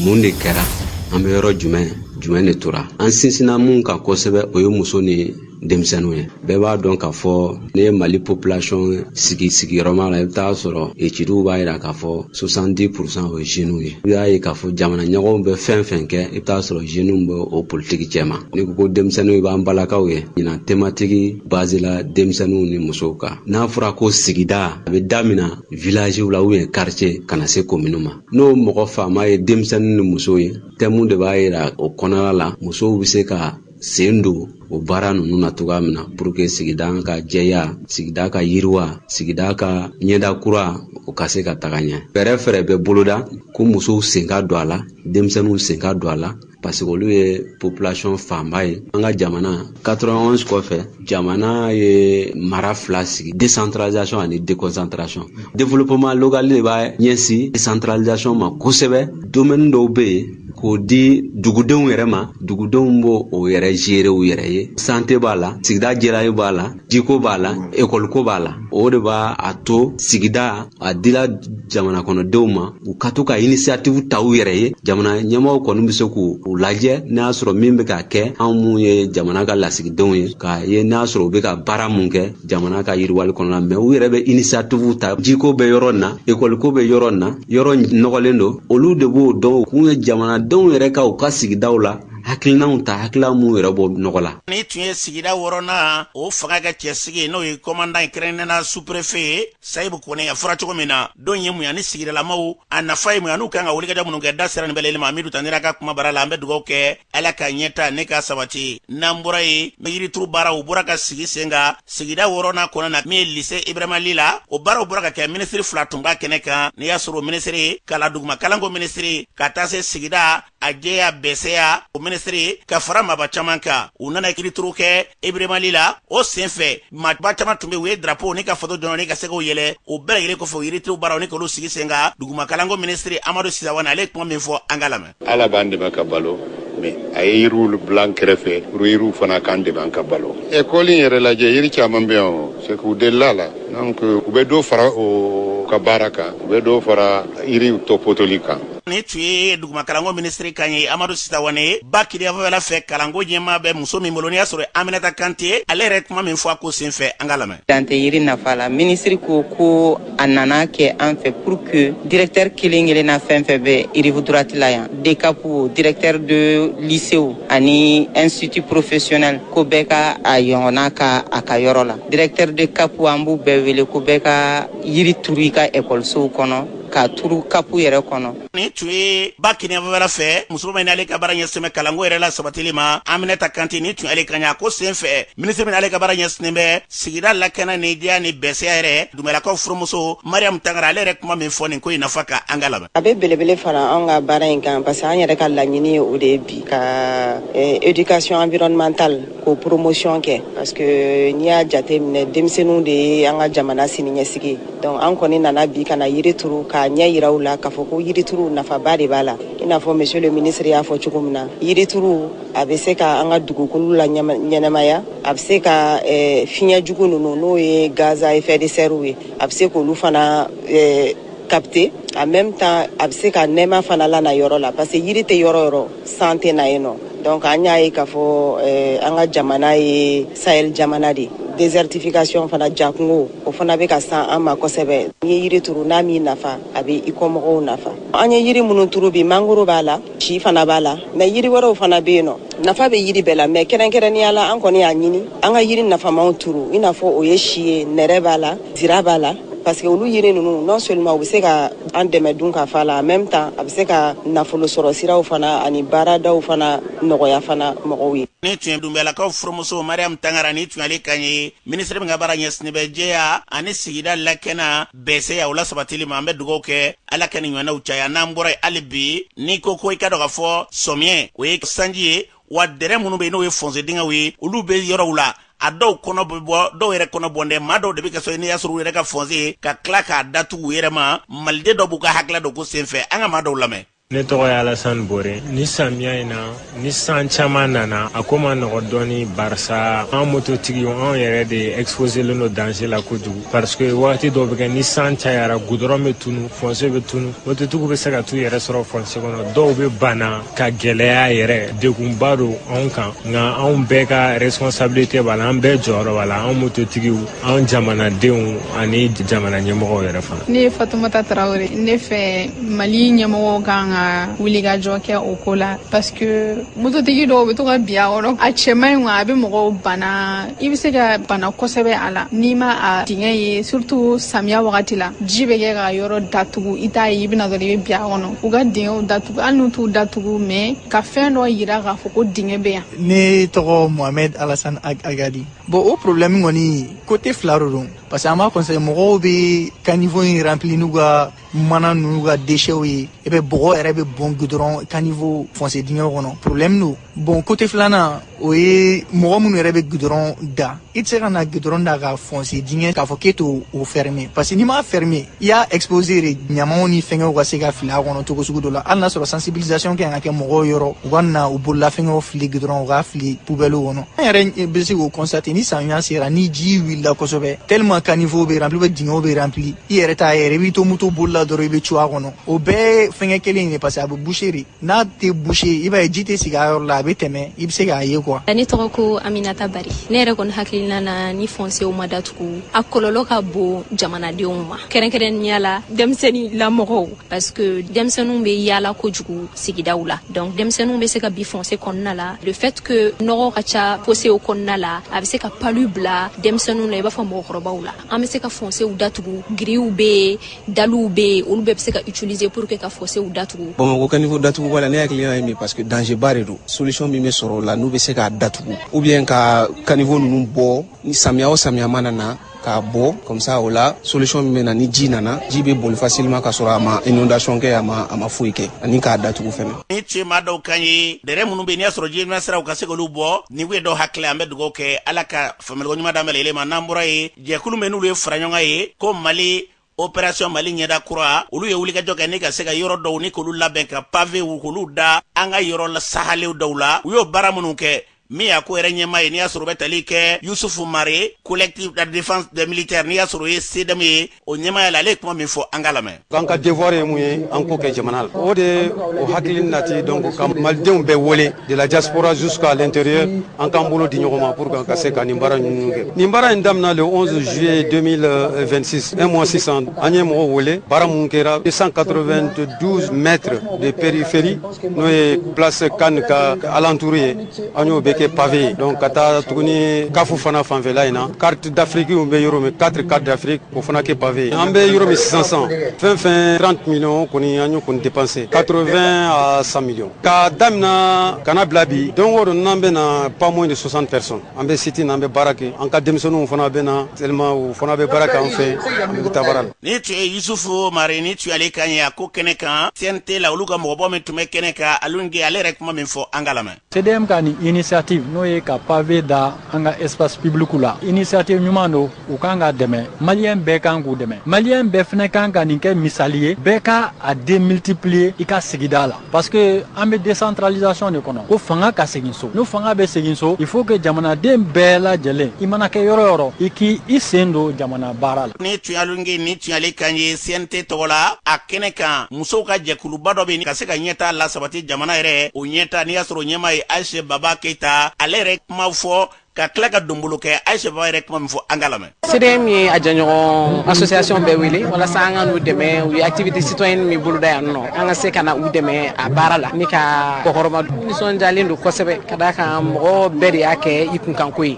mun de kɛra an bɛ yɔrɔ jumɛn jumɛn de tora an sinsinna min kan kosɛbɛ o ye muso ni denmisɛnninw ye bɛɛ b'a dɔn k'a fɔ n'i ye mali population sigi sigiyɔrɔma la i bɛ t'a sɔrɔ etidiw b'a yira k'a fɔ 70 pourcent o ye jeunes ye i y'a ye k'a fɔ jamana ɲɛmɔgɔw bɛ fɛn fɛn kɛ i bɛ t'a sɔrɔ jeunes bɛ o politiki cɛma n'i ko ko denmisɛnninw i b'an balakaw ye ɲinan tematiki bazila denmisɛnninw ni musow kan n'a fɔra ko sigida a bɛ damina villagew la ou bien quartier ka na se komini ma n'o mɔgɔ fanba ye denmisɛnnin ni musow ye tɛmu de b'a yira o kɔnɔna la musow bɛ se ka sen don o baara ninnu na cogoya min na pour que sigida ka jɛya sigida ka yiriwa sigida ka ɲɛda kura o ka se ka taga ɲɛ fɛɛrɛ fɛɛrɛ bɛ boloda ko musow sen ka don a la denmisɛnninw sen ka don a la parce que olu ye population fanba ye an ka jamana 91 kɔfɛ jamana ye mara fila sigi décentralisation ani déconcentration développement local de b'a ɲɛsin décentralisation ma kosɛbɛ domaine dɔw bɛ yen k'o di dugudenw yɛrɛ ma dugudenw b'o o yɛrɛ gérer u yɛrɛ ye santé b'a la sigida jɛyali b'a la jiko b'a la ekɔliko b'a la o de b'a a to sigida a dila jamana kɔnɔdenw ma u ka to ka inisiyatifu ta u yɛrɛ ye jamana ɲɛmɔgɔw kɔni bɛ se k'u u lajɛ n'a y'a sɔrɔ min bɛ ka kɛ anw minnu ye jamana ka lasigidenw ye k'a ye n'a sɔrɔ u bɛ ka baara mun kɛ jamana ka yiriwali kɔnɔna mais u yɛrɛ bɛ inisiyatifu ta jiko bɛ yɔrɔ na ekɔliko bɛ yɔrɔ na yɔrɔ nɔgɔlen don olu de b'o dɔn kun ye jamanadenw yɛrɛ ka u ka sigidaw la hakilinaw ta hakilina minnu yɛrɛ bɔ nɔgɔ la nin tun ye sigida wɔɔrɔnan o fanga ka cɛsigi n'o ye kɔmandan kɛrɛnnɛna sous-préfet ye sayibu kone a fɔra cogo min na don ye mun ye ani sigidalamaw a nafa ye mun ye an'u kan ka wulikajɔ minnu kɛ da sera nin bɛɛ lajɛlen ma amidu tandera ka kuma bara la an bɛ dugawu kɛ ala ka ɲɛtaa ni ka sabati n'an bɔra yen yirituru baaraw bɔra ka sigi sen kan sigida wɔɔrɔnan kɔnɔna min ye lise ibrahima li la o baaraw bɔra ka kɛ minisiri fila tun b'a kɛnɛ kan n'i y'a sɔrɔ minisiri kala duguma kalanko minisiri ka taa se sigida a jɛya bɛsɛya o minisiri ka fara maba caman kan u nana yirituru kɛ ibrahima li la o sen fɛ maba caman tun bɛ u ye drapo ni ka faso jɔnjɔn ni ka se k'o yɛlɛ o bɛɛ lajɛlen kɔfɛ o yirituru baaraw ni k'olu sigi sen kan dugumakalanko minisiri amadu si sawane ale ye kuma min fɔ an k'a lamɛn ala b'an dɛmɛ ka balo mais a ye yiriw bila an kɛrɛfɛ pour yiriw fana k'an dɛmɛ an ka balo ekɔli yɛrɛ lajɛ yiri caman bɛ yan c'est que u delila la donc u bɛ dɔ fara o ka baara kan u bɛ dɔ fara yiriw tɔpɔtɔli kan nin tun ye dugumakalanko minisiri kan ye amadu si sawane ye ba kininyanfanfɛla fɛ kalanko ɲɛmaa bɛ muso min bolo n'i y'a sɔrɔ aminata kante ale yɛrɛ kuma min fɔ a ko senfɛ an k'a lamɛn dan tɛ yiri nafa la minisiri ko ko a nana a kɛ an fɛ pour que directeur kelen kelen na fɛn fɛn bɛ rive droite la yan dekapu directeur de lycée ani institut professionnel ko bɛɛ ka a ɲɔgɔnna kɛ a ka yɔrɔ la directeur de kapu an b'u bɛɛ wele ko bɛɛ ka yiri turu i ka ekɔlisow kɔnɔ k'a turu kapu yɛrɛ kɔnɔ nin tun ye ba kininyanfanfɛla fɛ musoba min n'ale ka baara ɲɛsinnen bɛ kalanko yɛrɛ lasabatili ma aminata kante nin tun y'ale kan y'a ko sen fɛ minisiri min n'ale ka baara ɲɛsinnen bɛ sigida lakana ni jɛya ni bɛsɛya yɛrɛ dunbiyalakaw furumuso mariyamu tangara ale yɛrɛ kuma min fɔ nin ko in nafa kan an k'a lamɛn a bɛ belebele fara an ka baara in kan parce que an yɛrɛ ka laɲini ye o de ye bi ka eh, education environnementale k'o promotion kɛ parce que n'i y'a jate minɛ denmisɛnninw de ye an ka jamana siniɲɛsigi donc an kɔni nana bi ka na yiri turu k'a ɲɛ yira u la k'a fɔ ko yiri turu nafaba de b'a la i n'a fɔ monsieur le ministre y'a fɔ cogo min na yiri turu a bɛ se ka an ka dugukolo laɲɛnamaya a bɛ se ka eh, fiɲɛ jugu ninnu n'o ye gaz à effet de serre ye a bɛ se k'olu fana eh, capter en même temps a bɛ se ka nɛɛma fana lana yɔrɔ la parce que yiri tɛ yɔrɔ yɔrɔ san tɛ na yen nɔ donc an y'a ye k'a fɔ eh, an ka jamana ye sahel jamana de désertification fana jakungo o fana bɛ ka se an ma kosɛbɛ n'i ye yiri turu n'a m'i nafa a bɛ i kɔmɔgɔw nafa an ye yiri minnu turu bi mangoro b'a la si fana b'a la mais yiri wɛrɛw fana bɛ yen nɔ nafa bɛ yiri bɛɛ la mais kɛrɛnkɛrɛnnenya la an kɔni y'a ɲini an ka yiri nafamanw turu i n'a fɔ o ye si ye nɛrɛ b'a la zira b'a la parce que olu yiri ninnu non seulement u bɛ se ka an dɛmɛ dunkafa la en même temps a bɛ se ka nafolo sɔrɔ siraw fana ani baaradaw fana nɔgɔya fana mɔgɔw ye. nin tun ye dunbiyalakaw furumuso mariam tangara nin tun y'ale kan ye minisiri min ka baara ɲɛsinnen bɛ jɛya ani sigida lakana bɛɛsɛya o la sabatili ma an bɛ dugawu kɛ ala ka nin ɲɔgɔnnaw caya n'an bɔra yen hali bi n'i ko ko i ka dɔ ka fɔ samiyɛ o ye sanji ye wa dɛrɛ minnu bɛ yen n'o ye fɔnse dingɛw ye olu bɛ yɔrɔw la a dɔw kɔnɔ bɛ bɔ dɔw yɛrɛ kɔnɔ bɔn dɛ maa dɔw de bɛ kɛ so n'i y'a sɔrɔ u yɛrɛ ka fɔnse ka tila k'a datugu u yɛrɛ ma maliden dɔw b'u ka hakilila don ko senfɛ an ka maa dɔw lamɛn ne tɔgɔ ye alasan bore ni samiya in na ni san caman nana a ko ma nɔgɔ dɔɔni barisa an mototigiw anw yɛrɛ de exposelen don danger la kojugu parce que wagati dɔw bɛ kɛ ni san cayara gudɔrɔn bɛ tunu fɔnse bɛ tunu mototigiw bɛ se ka t'u yɛrɛ sɔrɔ fɔnse kɔnɔ dɔw bɛ bana ka gɛlɛya yɛrɛ degunba don anw kan nka anw bɛɛ ka responsabilité b'a la an bɛɛ jɔyɔrɔ b'a la anw mototigiw anw jamanadenw ani jamana ɲɛmɔgɔw yɛrɛ fana ne ye fatumata tarawele ne fɛ mali ɲɛmɔgɔw kan ka wulikajɔ kɛ o ko la parce que mototigi dɔw be to ka bi a kɔnɔ a cɛ man ɲi a be mɔgɔw bana i be se ka bana kosɛbɛ a la n'i ma a dingɛ ye surtout samiya wagati la ji be kɛ ka yɔrɔ datugu i t'a ye i be na dɔrɔn i be bi a kɔnɔ u ka dingɛw datugu hali n'u t'u datugu mais ka fɛn dɔ yira k'a fɔ ko dingɛ be yan ne tɔgɔ mohamɛd alasan agadi bon o problème kɔni kote fila de don parce que an b'a constate mɔgɔw be caniveau in rempli n'u ka mana n'u ka déchets ye et puis bɔgɔ yɛrɛ bɛ bɔn gudɔrɔn caniveau fonse dingɛ kɔnɔ problème don bon kote filanan o ye mɔgɔ minnu yɛrɛ bɛ gudɔrɔn da i tɛ se ka na gudɔrɔn da ka fonse dingɛ k'a fɔ k'e t'o ferme parce que n'i m'a ferme i y'a exposé de ɲamaw ni fɛngɛw ka se ka fili a kɔnɔ cogo sugu dɔ la hali n'a sɔrɔ sensibilisation kan ka kɛ mɔgɔw yɔrɔ u kana u bololafɛngɛw fili gidɔrɔn u ka fili pubɛliw kɔnɔ an yɛrɛ bɛ se k'o constate ni samiya sera ni ji wulila kosɛbɛ tellement caniveau bɛ rempli bɛ dingɛw bɛ rempli i yɛrɛ t'a ye de i b'i to moto bolila dɔrɔn i bɛ cun a kɔnɔ o bɛɛ fɛngɛ kelen in de parce que a bɛ boucher de n'a tɛ bouche i b'a ye ji tɛ sigi a yɔrɔ la a bɛ tɛmɛ i bɛ se k'a ye quoi. Ne tɔgɔ ko Aminata Bari ne yɛrɛ kɔni hakilina na ni fonsew ma datugu a kɔlɔlɔ ka bon jamanadenw ma kɛrɛnkɛrɛnnenya la denmisɛnnin lamɔgɔw parce que denmisɛnninw bɛ yaala kojugu sigidaw la donc denmisɛnninw bɛ se ka bi fonse kɔnɔna la le fait que nɔgɔ ka ca fonse kɔnɔna la a bɛ se ka palu bila denmisɛnninw na i b'a fɔ mɔgɔkɔrɔbaw la an bɛ se ka fonsew datugu grilles bɛ yen daliw bɛ yen olu bɛɛ bɛ se ka utiliser pour que ka fosew datugu bamakɔ caniveau datugu wala ne hakilina ye min parce que danger ba de don solution min bɛ sɔrɔ o la n'u bɛ se k'a datugu ou bien ka caniveau ninnu bɔ ni samiya o samiya mana na k'a bɔ comme ça o la solution min bɛ na ni ji nana ji bɛ boli facilement ka sɔrɔ a ma inondation kɛ a ma a ma foyi kɛ ani k'a datugu fɛnɛ nin tun ye maa dɔw kan ye dɛrɛ minnu bɛ yen n'i y'a sɔrɔ jitɛmɛ siraw ka se k'olu bɔ nin ye dɔw hakili an bɛ dugawu kɛ ala ka faamuyaliko ɲuman d'an bɛɛ lajɛlen ma n'an bɔra yen jɛkulu min n'olu ye faraɲɔgɔn ye ko mali opération mali ɲɛda kura olu ye wulikajɔ kɛ ni ka se ka yɔrɔ dɔw ni k'olu labɛn ka pavew k'olu da an ka yɔrɔ la sahalew dɔw la u y'o baara minnu kɛ min y'a ko yɛrɛ ɲɛmaa ye n'i y'a sɔrɔ bɛ tali kɛ yusufu mare collectif de défense des militaires n'i y'a sɔrɔ o ye CDM ye o ɲɛmaaya la ale ye kuma min fɔ an ka lamɛn An ka devoir ye mun ye an k'o kɛ jamana la o de o hakili in nati donc ka malidenw bɛɛ wele de la diaspora jusqu'à l'intérieur an k'an bolo di ɲɔgɔn ma pour que an ka se ka nin baara ninnu kɛ nin baara in daminɛ le 11 juillet 2026 un mois sisan an ye mɔgɔw wele baara mun kɛra 292 mètres de périphérie n'o ye place CAN ka alentour ye an y'o bɛɛ kɛ pavé ye donc ka taa tuguni kafu fana fanfɛla in na carte d'afrique bɛ yɔrɔ min quatre carte d'afrique o fana kɛ pavé ye an bɛ yɔrɔ min sisan fɛn fɛn 30 millions kɔni an y'o kɔni dépenser 80 à 100 millions ka damina ka na bila bi don o don n'an bɛ na pas moins de 60 personnes an bɛ site na an bɛ baara kɛ an ka denmisɛnninw fana bɛ na tellement u fana bɛ baara kɛ an fɛ an bɛ taa baara la Ni tun ye Yusufu mare ni tun ale kan ye a ko kɛnɛ kan CNT la olu ka mɔgɔbɔ min tun bɛ kɛnɛ kan Alioune Gueye ale yɛrɛ kuma min fɔ an ka lamɛn. CDM ka nin initiative n'o ye ka pavé da an ka espace public la initiative ɲuman don u kan ka dɛmɛ maliyɛn bɛɛ kan k'u dɛmɛ maliyɛn bɛɛ fana kan ka nin kɛ misali ye bɛɛ ka a démultiplier i ka sigida la. Parce que an bɛ décentralisation de kɔnɔ ko fanga ka segin so n'o fanga bɛ segin so il faut que jamanaden bɛɛ lajɛlen i mana kɛ yɔrɔ yɔrɔ i k' i sen don jamana baara la ni tun Alioune Gueye ni tun ale kan ye CNT tɔgɔ la a kɛnɛ kan musow ka jɛkuluba dɔ bɛ ka se ka ɲɛtaa lasabati jamana yɛrɛ o ɲɛtaa n'i y'a sɔrɔ ɲɛmaa ye ayise baba keyita ale yɛrɛ kuma fɔ ka tila ka donbolo kɛ ayise baba yɛrɛ kuma min fɔ an ka lamɛn CDM ye a jɛɲɔgɔn association bɛɛ wele walasa an ka n'u dɛmɛ u ye activité citoyenne min boloda yan nɔ an ka se ka na u dɛmɛ a baara la ni ka kɔkɔrɔma nisɔndiyalen don kosɛbɛ ka d'a kan mɔgɔ bɛɛ de y'a kɛ i kunkanko ye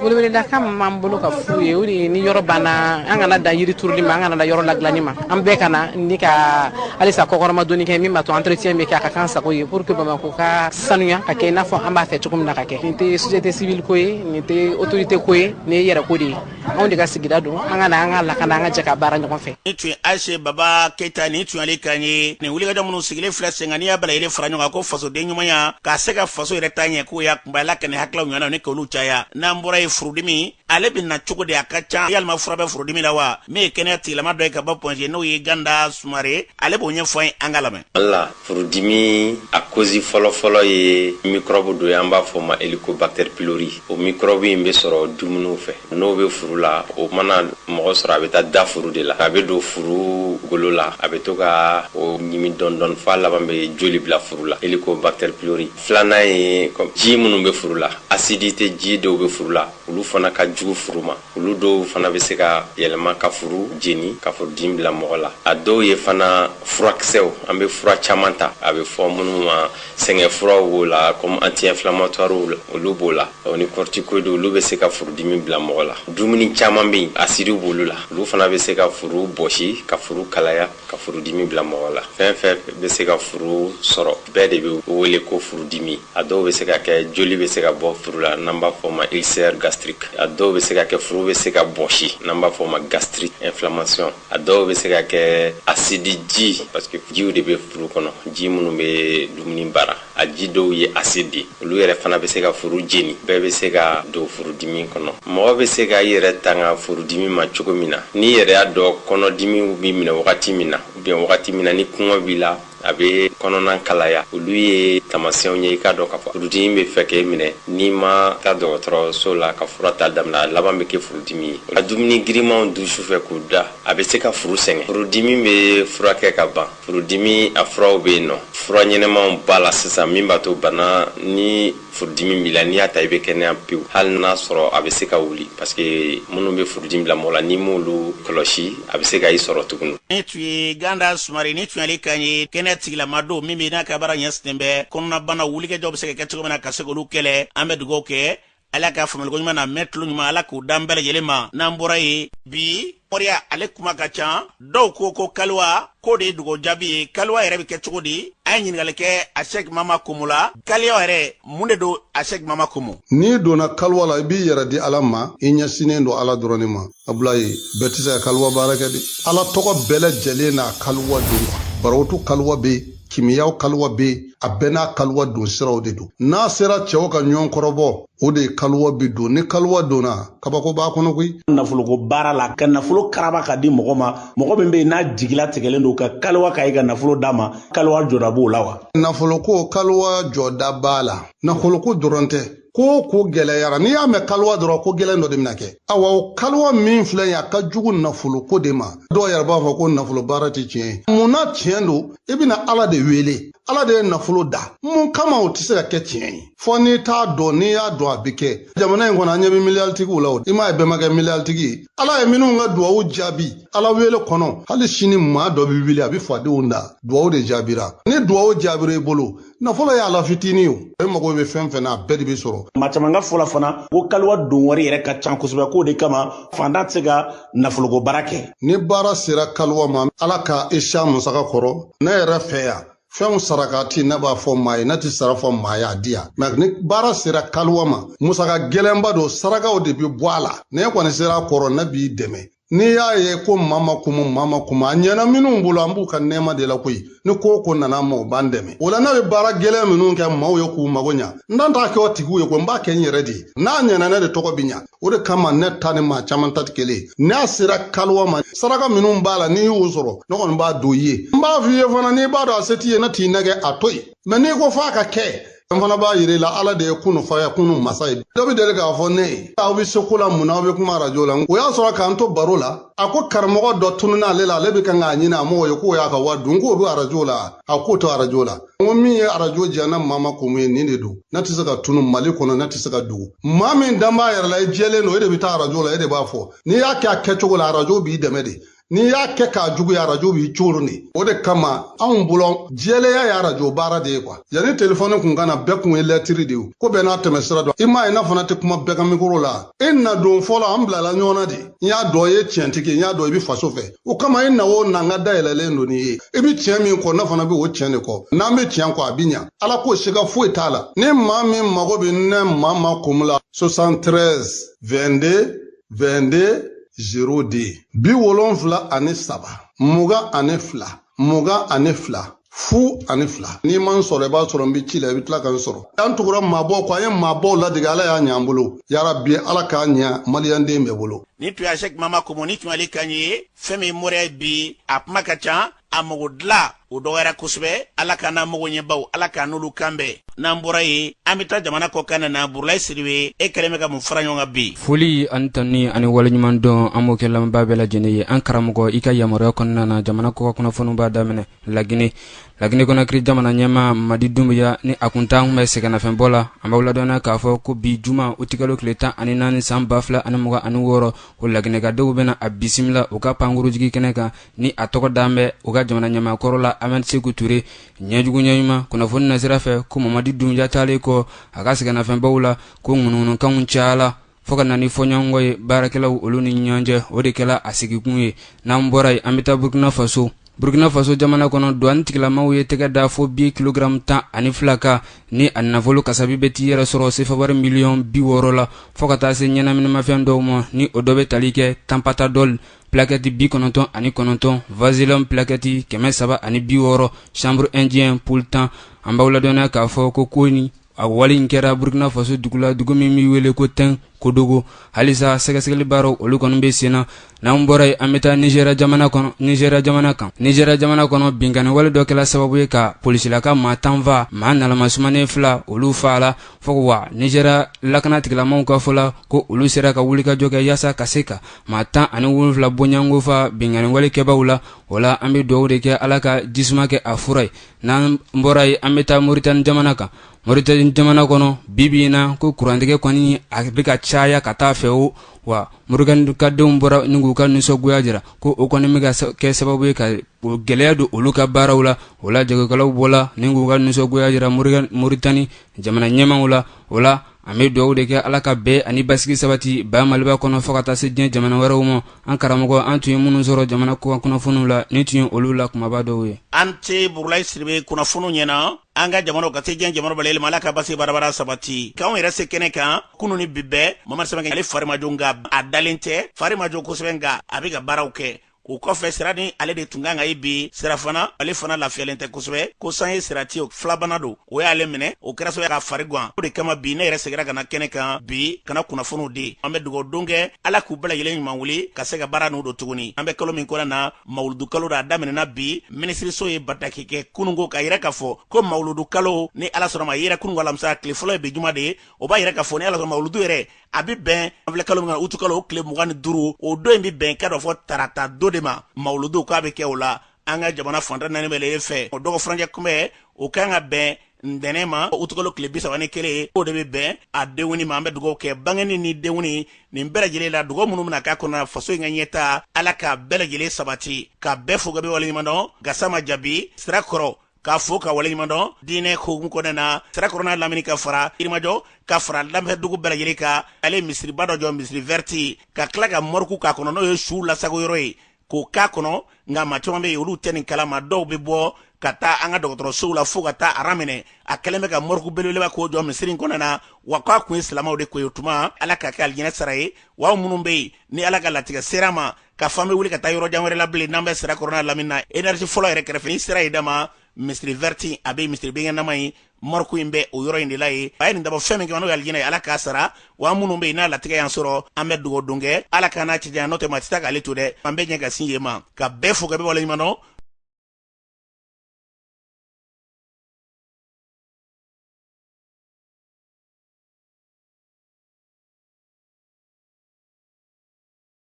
weleweledakan min b'an bolo ka f'u ye o de ye ni yɔrɔ banna an kana dan yiri turuli ma an kana dan yɔrɔ ladilanni ma an bɛɛ ka na ni ka halisa kɔkɔrɔma donni kɛ min b'a to entretien bɛ kɛ a ka kan sago ye pour que Bamakɔ ka sanuya ka kɛ i n'a fɔ an b'a fɛ cogo min na ka kɛ nin tɛ société civile ko ye nin tɛ autorité ko ye nin ye yɛrɛ ko de ye anw de ka sigida don an ka na an ka lakana an ka jɛ ka baara ɲɔgɔn fɛ ni tun ye ayise baba keyita nin tun ale kan ye nin wulikajɔ minnu sigilen filɛ sen kan n'i y'a bɛɛ lajɛlen fara ɲɔgɔn kan ko fasoden ɲumanya k'a se ka faso yɛrɛ taa ɲɛ k'o y'a kunbaya la ka nin hakililaw ɲɔgɔnnaw ni k'olu caya n'an bɔra ye furudimi ale bɛ na cogo di a ka ca yalima fura bɛ furudimi la wa min ye kɛnɛya tigilama dɔ ye ka bɔ point G n'o ye ganda sumare ale b'o ɲɛfɔ an ye an ka lamɛn wala furudimi a cause fɔlɔfɔlɔ ye mikɔrɔbu dɔ ye an b'a fɔ ma Helicobacter pylori o mikɔrɔbu in bɛ sɔrɔ dumuniw fɛ n'o bɛ furu la o mana mɔgɔ sɔrɔ a bɛ taa da furu de la a bɛ don furu golo la a bɛ to ka o ɲimi dɔɔnin dɔɔnin f'a laban bɛ joli bila furu la Helicobacter pylori filanan ye ji minnu bɛ furu la acidité ji dɔw bɛ furu la olu fana ka jugu furu ma Olu dɔw fana bɛ se ka yɛlɛma ka furu jeni, ka furudimi bila mɔgɔ la. A dɔw ye fana furakisɛw, an bɛ fura caman ta, a bɛ fɔ minnu ma sɛgɛn furaw b'o la comme anti inflammatoires olu b'o la, o ni corticoides olu bɛ se ka furudimi bila mɔgɔ la. Dumuni caman bɛ yen, asidi b'olu la, olu fana bɛ se ka furu bɔsi, ka furu kalaya. ka furudimi bila mɔgɔ la fɛn fɛn bɛ se ka furu sɔrɔ bɛɛ de bɛ wele ko furudimi a dɔw bɛ se ka kɛ joli bɛ se ka bɔ furu la n'an b'a fɔ ma ulcère gastrique a dɔw bɛ se ka kɛ furu bɛ se ka bɔsi n'an b'a fɔ ma gastrite inflammation a dɔw bɛ se ka kɛ asidi ji parce que jiw de bɛ furu kɔnɔ ji minnu bɛ dumuni baara a ji dɔw ye acide ye olu yɛrɛ fana bɛ se ka furu jeni bɛɛ bɛ se ka don furudimi kɔnɔ mɔgɔ bɛ se ka i yɛrɛ tanga furudimi ma cogo min na n'i yɛrɛ y'a dɔn kɔnɔdimi b'i minɛ wagati min na ou bien wagati min na ni kɔngɔ b'i la a bɛ kɔnɔna kalaya olu ye taamasiyɛnw ye i k'a dɔn k'a fɔ furudimi bɛ fɛ k'e minɛ n'i ma taa dɔgɔtɔrɔso la ka fura ta damina a laban bɛ kɛ furudimi ye ka dumuni girimanw dun sufɛ k'u da a bɛ se ka furu sɛgɛn furudimi bɛ furakɛ ka ban Furudimi a furaw bɛ yen nɔ. Fura ɲɛnamaw b'a la sisan min b'a to bana ni furudimi b'i la n'i y'a ta i bɛ kɛnɛya pewu hali n'a sɔrɔ a bɛ se ka wuli parce que minnu bɛ furudimi bila mɔgɔ la n'i m'olu kɔlɔsi a bɛ se ka i sɔrɔ tuguni. Nin tun ye Ganda Sumare nin tun y'ale kan ye kɛnɛya tigilama don min bɛ n'a ka baara ɲɛsinnen bɛ kɔnɔnabanaw wulikajɔw bɛ se ka kɛ cogo min na ka se k'olu kɛlɛ an bɛ dugawu kɛ ala ka faamuyaliko ɲuman n'a mɛn tulo ɲuman ala k'o d'an bɛɛ lajɛlen ma n'an bɔra yen bi mɔriya ale kuma ka ca dɔw ko ko kaliwa k'o de ye dugawu jaabi ye kaliwa yɛrɛ bɛ kɛ cogo di an ye ɲininkali kɛ asɛki mama komo la kaliwa yɛrɛ mun de don asɛki mama komo n'i donna kaliwa la i b'i yɛrɛ di ala ma i ɲɛsinnen don ala dɔrɔn de ma abulayi bɛɛ tɛ se ka kaliwa baara kɛ dɛ ala tɔgɔ bɛɛ lajɛlen n'a kaliwa don barotu kaliwa bɛ yen kimiyaw kaliwa bɛ yen a bɛɛ n'a kaliwa don siraw de don n'a sera cɛw ka ɲɔgɔn kɔrɔbɔ o de ye kaliwa bɛ don ni kaliwa donna kabako b'a kɔnɔ koyi nafoloko baara la ka nafolo karaba k'a di mɔgɔ ma mɔgɔ min bɛ yen n'a jigila tigɛlen don ka kaliwa k'a ye ka nafolo d'a ma kaliwa jɔda b'o la wa nafoloko kaliwa jɔda b'a la nafoloko dɔrɔn tɛ ko o ko gɛlɛyara n'i y'a mɛn kaliwa dɔrɔn ko gɛlɛn dɔ de bɛna kɛ awa o kaliwa min filɛ ye a ka jugu nafoloko de ma dɔw yɛrɛ b'a fɔ ko nafolo baara tɛ tiɲɛ ye mun na tiɲɛ don i bɛna ala de wele ala de ye nafolo dan mun kama o tɛ se ka kɛ tiɲɛ ye fo n'i t'a dɔn n'i y'a dɔn a bɛ kɛ jamana in kɔnɔ an ɲɛ bɛ miliyaritigiw la o i m'a ye bɛɛ ma kɛ miliyaritigi ye ala ye minnu ka duwawu jaabi ala wele kɔnɔ hali sini maa dɔ bɛ wuli a bɛ fadenw dan duwawu de jaabira ni duwawu jaabira i bolo nafolo y'ala fitini o e mago bɛ fɛn fɛn na a bɛɛ de bɛ sɔrɔ maa caman ka fɔ la fana ko kaliwa don wari yɛrɛ ka can kosɛbɛ k'o de kama fantan tɛ se ka nafoloko baara kɛ ni baara sera kaliwa ma ala ka i se a musaka kɔrɔ ne yɛrɛ fɛ yan fɛnw sarakati ne b'a fɔ maa ye ne ti sara fɔ maa ye a di yan mɛ ni baara sera kaliwa ma musaka gɛlɛnba don sarakaw de bɛ bɔ a la n'e kɔni sera a kɔrɔ ne b'i dɛmɛ n'i y'a ye ko mama kumu mama kumu a ɲɛna minnu bolo an b'u ka nɛɛma de la koyi ni ko o ko nana an ma o b'an dɛmɛ o la ne bɛ baara gɛlɛn minnu kɛ maaw ye k'u mago ɲa n t'a n t'a kɛ o tigiw ye ko n b'a kɛ n yɛrɛ de ye n'a ɲɛna ne de tɔgɔ bi ɲa o de kama ne ta ni maa caman ta tɛ kelen ye n'a sera kaliwa ma saraka minnu b'a la n'i y'o sɔrɔ ne kɔni b'a don i ye n b'a f'i ye fana n'i b'a dɔn a se t'i ye ne t'i nɛgɛn a to yen mɛ n'i ko f'a ka kɛ n fana b'a yira i la ala de ye kunu fayakunu masa ye dɔ bɛ deli k'a fɔ ne ye aw bɛ se ko la mun na aw bɛ kuma arajo la o y'a sɔrɔ k'an to baro la a ko karamɔgɔ dɔ tununna ale la ale bɛ kan k'a ɲini a mɔgɔ ye k'o y'a ka wari dun k'o bɛ arajo la a k'o to arajo la n ko min ye arajo diya ne mama kumu ye nin de don ne tɛ se ka tunun mali kɔnɔ ne tɛ se ka dogo maa min dan b'a yɛrɛ la i jɛlen don e de bɛ taa arajo la e de b'a fɔ n'i y'a kɛ a kɛcogo la arajo b'i dɛmɛ de n'i y'a kɛ k'a juguya arajo b'i coron de o de kama anw bolo jɛlenya ye arajo baara de ye kuwa yanni telefɔni kun ka na bɛɛ kun ye lɛtiri de ye ko bɛɛ n'a tɛmɛ sira don i m'a ye ne fana tɛ kuma bɛɛ ka mikoro la i na don fɔlɔ an bilala ɲɔgɔn na de n y'a dɔn i ye tiɲɛtigi ye n y'a dɔn i bɛ faso fɛ o kama i na o na n ka da yɛlɛlen don n'i ye i bɛ tiɲɛ min kɔ ne fana bɛ o tiɲɛ de kɔ n'an bɛ tiɲɛ kɔ a bɛ ɲa ala k'o siga foyi t'a la ni maa min mago bɛ ne mama kumu la 73 22 22 02 bi wolonfila ani saba mugan ani fila mugan ani fila fu ani fila n'i ma n sɔrɔ i b'a sɔrɔ n bɛ ci la i bɛ tila ka n sɔrɔ an tugura maabaw kɔ an ye maabaw ladege ala y'a ɲɛ an bolo yarabi ala k'a ɲɛ maliyanden bɛɛ bolo nin tun ye sɛk mama komo nin tun y'ale kan ye fɛn min moriya bi a kuma ka ca a mago dilan o dɔgɔyara kosɛbɛ ala k'an n'an mago ɲɛbaw ala k'an n'olu kan bɛn n'an bɔra yen an bɛ taa jamana kɔkan na burulayi sidibe e kɛlen bɛ ka mun fara ɲɔgɔn kan bi foli ani tanuni ani waleɲumandɔn an b'o kɛ lamɛnbaa bɛɛ lajɛlen ye an karamɔgɔ i ka yamaruya kɔnɔna na jamana kɔkan kunnafoniw b'a daminɛ lagine lagine konakiri jamana ɲɛmaa mamadi dumbuya ni a kun taalen kun bɛ sɛgɛnnafiɲɛbɔ la an b'aw ladɔnniya k'a fɔ ko bi juma utikalo tile tan ani naani san ba fila ani mugan ani wɔɔrɔ o laginɛkadenw bɛna a bisimila u ka pankurunjigi kɛnɛ kan ni a tɔgɔ dan bɛ u ka jamana ɲɛmaakɔrɔ la ahmed seku ture ɲɛjugu ɲɛɲuman kunnafoni nasira fɛ ko mamadi dumbuya taalen kɔ a ka sɛgɛnnafiɲɛbɔ la ko ŋunuŋunukanw cayala fɔɔ ka na ni fɔɲɔgɔnkɔ ye baarakɛlaw olu ni ɲɔgɔn cɛ o de kɛla a sigikun ye n'an bɔra yen an bɛ taa burkina faso burkina faso jamana kɔnɔ duwani tigilamaw ye tɛgɛ da fo bi kilogaramu tan ani fila kan ni a nafolo kasabi bɛ t'i yɛrɛ sɔrɔ sefawari miliyɔn bi wɔɔrɔ la fɔɔ ka taa se ɲɛnaminimafɛn dɔw ma ni o dɔ bɛ tali kɛ tanpatadɔli plakɛti bi kɔnɔntɔn ani kɔnɔntɔn vazelen plakɛti kɛmɛ saba ani bi wɔɔrɔ chanvre indien boule tan an b'aw ladɔnniya k'a fɔ ko kɔni a wale in kɛra burukina faso dugu la dugu min bɛ wele ko tɛnkodogo halisa sɛgɛsɛgɛli baaraw olu kɔni bɛ sen na n'an bɔra yen an bɛ taa nizɛriya jamana kɔnɔ nizɛriya jamana kan nizɛriya jamana kɔnɔ binkanni wale dɔ kɛra sababu ye ka polisilaka maa tan faa maa nalamasumanen fila olu faala fo wa nizɛriya lakana tigilamaw ka fɔ la ko olu sera ka wulikajɔ kɛ yaasa ka se ka maa tan ani wolonwula bɔɲɔgɔnko faa binkanniwalekɛbaaw la o la an bɛ dugawu de kɛ ala ka jisuma kɛ a fura ye n'an bɔra yen an bɛ taa moritani jamana kan moritani jamana kɔnɔ bibi in na ko kurantigɛ kɔni a bɛ ka caya ka taa a fɛ o wa moritanikadenw bɔra ni k'u ka nisɔngoya jira ko o kɔni bɛ ka kɛ sababu ye ka gɛlɛya don olu ka baaraw la o la jagokɛlaw bɔra ni k'u ka nisɔngoya jira moritani jamana ɲɛmaaw la o la an bɛ dugawu de kɛ ala ka bɛn ani basigi sabati ba maliba kɔnɔ fo ka taa se diɲɛ jamana wɛrɛw ma an karamɔgɔ an tun ye minnu sɔrɔ jamana kɔkan kunnafoniw la nin tun ye olu la kunbaba dɔw ye a ni ce burulayi sidibe kunnafoniw ɲɛna an ka jamana ka se diɲɛ jamana bɛɛ lajɛlen ma ala ka basigi bɛrɛbɛrɛ sabati k'anw yɛrɛ se kɛnɛ kan kunun ni bi bɛɛ mamari sɛbɛn ale fari ma jɔ nka a dalen tɛ fari ma jɔ kosɛbɛ nka a bɛ ka baaraw kɛ o kɔfɛ sira ni ale de tun kan ka ye bi sira fana ale fana lafiyalen tɛ kosɛbɛ ko san ye sira tiyo filabana don o y'ale minɛ o kɛra sababu k'a fari gan o de kama bi ne yɛrɛ segira ka na kɛnɛ kan bi ka na kunnafoniw di an bɛ dugawu don kɛ ala k'u bɛɛ lajɛlen ɲuman wuli ka se ka baara n'u don tuguni an bɛ kalo min kɔnɔ na mawuludu kalo de a daminɛna bi minisiriso ye bataki kɛ kunun ko k'a yira k'a fɔ ko mawuludu kalo ni ala sɔnna ma yera kunun alamisa tile fɔlɔ ye bi juma de ye o b'a yira k'a fɔ ni ala sɔnna mawuludu yɛrɛ a bɛ bɛn an filɛ kalo min na utukalo o tile mugan ni duuru o don in bɛ bɛn ka dɔn k'a fɔ tarata don de ma mawuludu k'a bɛ kɛ o la an ka jamana fan tan ni naani bɛɛ lajɛlen fɛ o dɔgɔ furancɛ kunbɛn o ka kan ka bɛn ntɛnɛn ma utukalo tile bi saba ni kelen o de bɛ bɛn a denkundi ma an bɛ dugawu kɛ bangeni ni denkundi nin bɛɛ lajɛlen la dugawu minnu bɛna kɛ a kɔnɔ faso in ka ɲɛtaa ala k'a bɛɛ lajɛlen sabati ka bɛɛ fo ka bɛɛ waleɲumandɔn gasama jabi sirakɔrɔ k'a fo k'a waleɲuman dɔn diinɛ hukumu kɔnɔna na sirakɔrɔ n'a lamini ka fara yirimajɔ ka fara lamini dugu bɛɛ lajɛlen kan ale misiriba dɔ jɔ misiri vɛriti ka tila ka mɔriku k'a kɔnɔ n'o ye suw lasagon yɔrɔ ye k'o k'a kɔnɔ nka maa caman bɛ yen olu tɛ nin kalama dɔw bɛ bɔ ka taa an ka dɔgɔtɔrɔsow la fo ka taa aran minɛ a kɛlen bɛ ka mɔriku belebeleba k'o jɔ misiri in kɔnɔ na wa k'a kun ye silamɛw de ko ye o tuma ala k'a kɛ alijinɛ sara ye wa minnu bɛ yen ni ala ka latigɛ sera ma k'a fɔ an bɛ wuli ka taa yɔrɔ jan wɛrɛ la bilen n'an bɛ sirakɔrɔ n'a lamini na energie fɔlɔ yɛrɛ kɛrɛfɛ n'i sera yen dama misiri vɛrti a bɛ misiri binkɛnɛma ye mɔriku in bɛ o yɔrɔ in de la yen a ye nin dabɔ fɛn min kama n'o ye alijinɛ ye ala k'a sara wa minnu bɛ yen n'a latigɛ y'an sɔrɔ an bɛ dugawu don kɛ ala k'an n'a cɛ janya n'o tɛ maa tɛ taa k'ale to dɛ an bɛ ɲɛ ka sin yen ma ka bɛɛ fo ka bɛɛ waleɲuman dɔn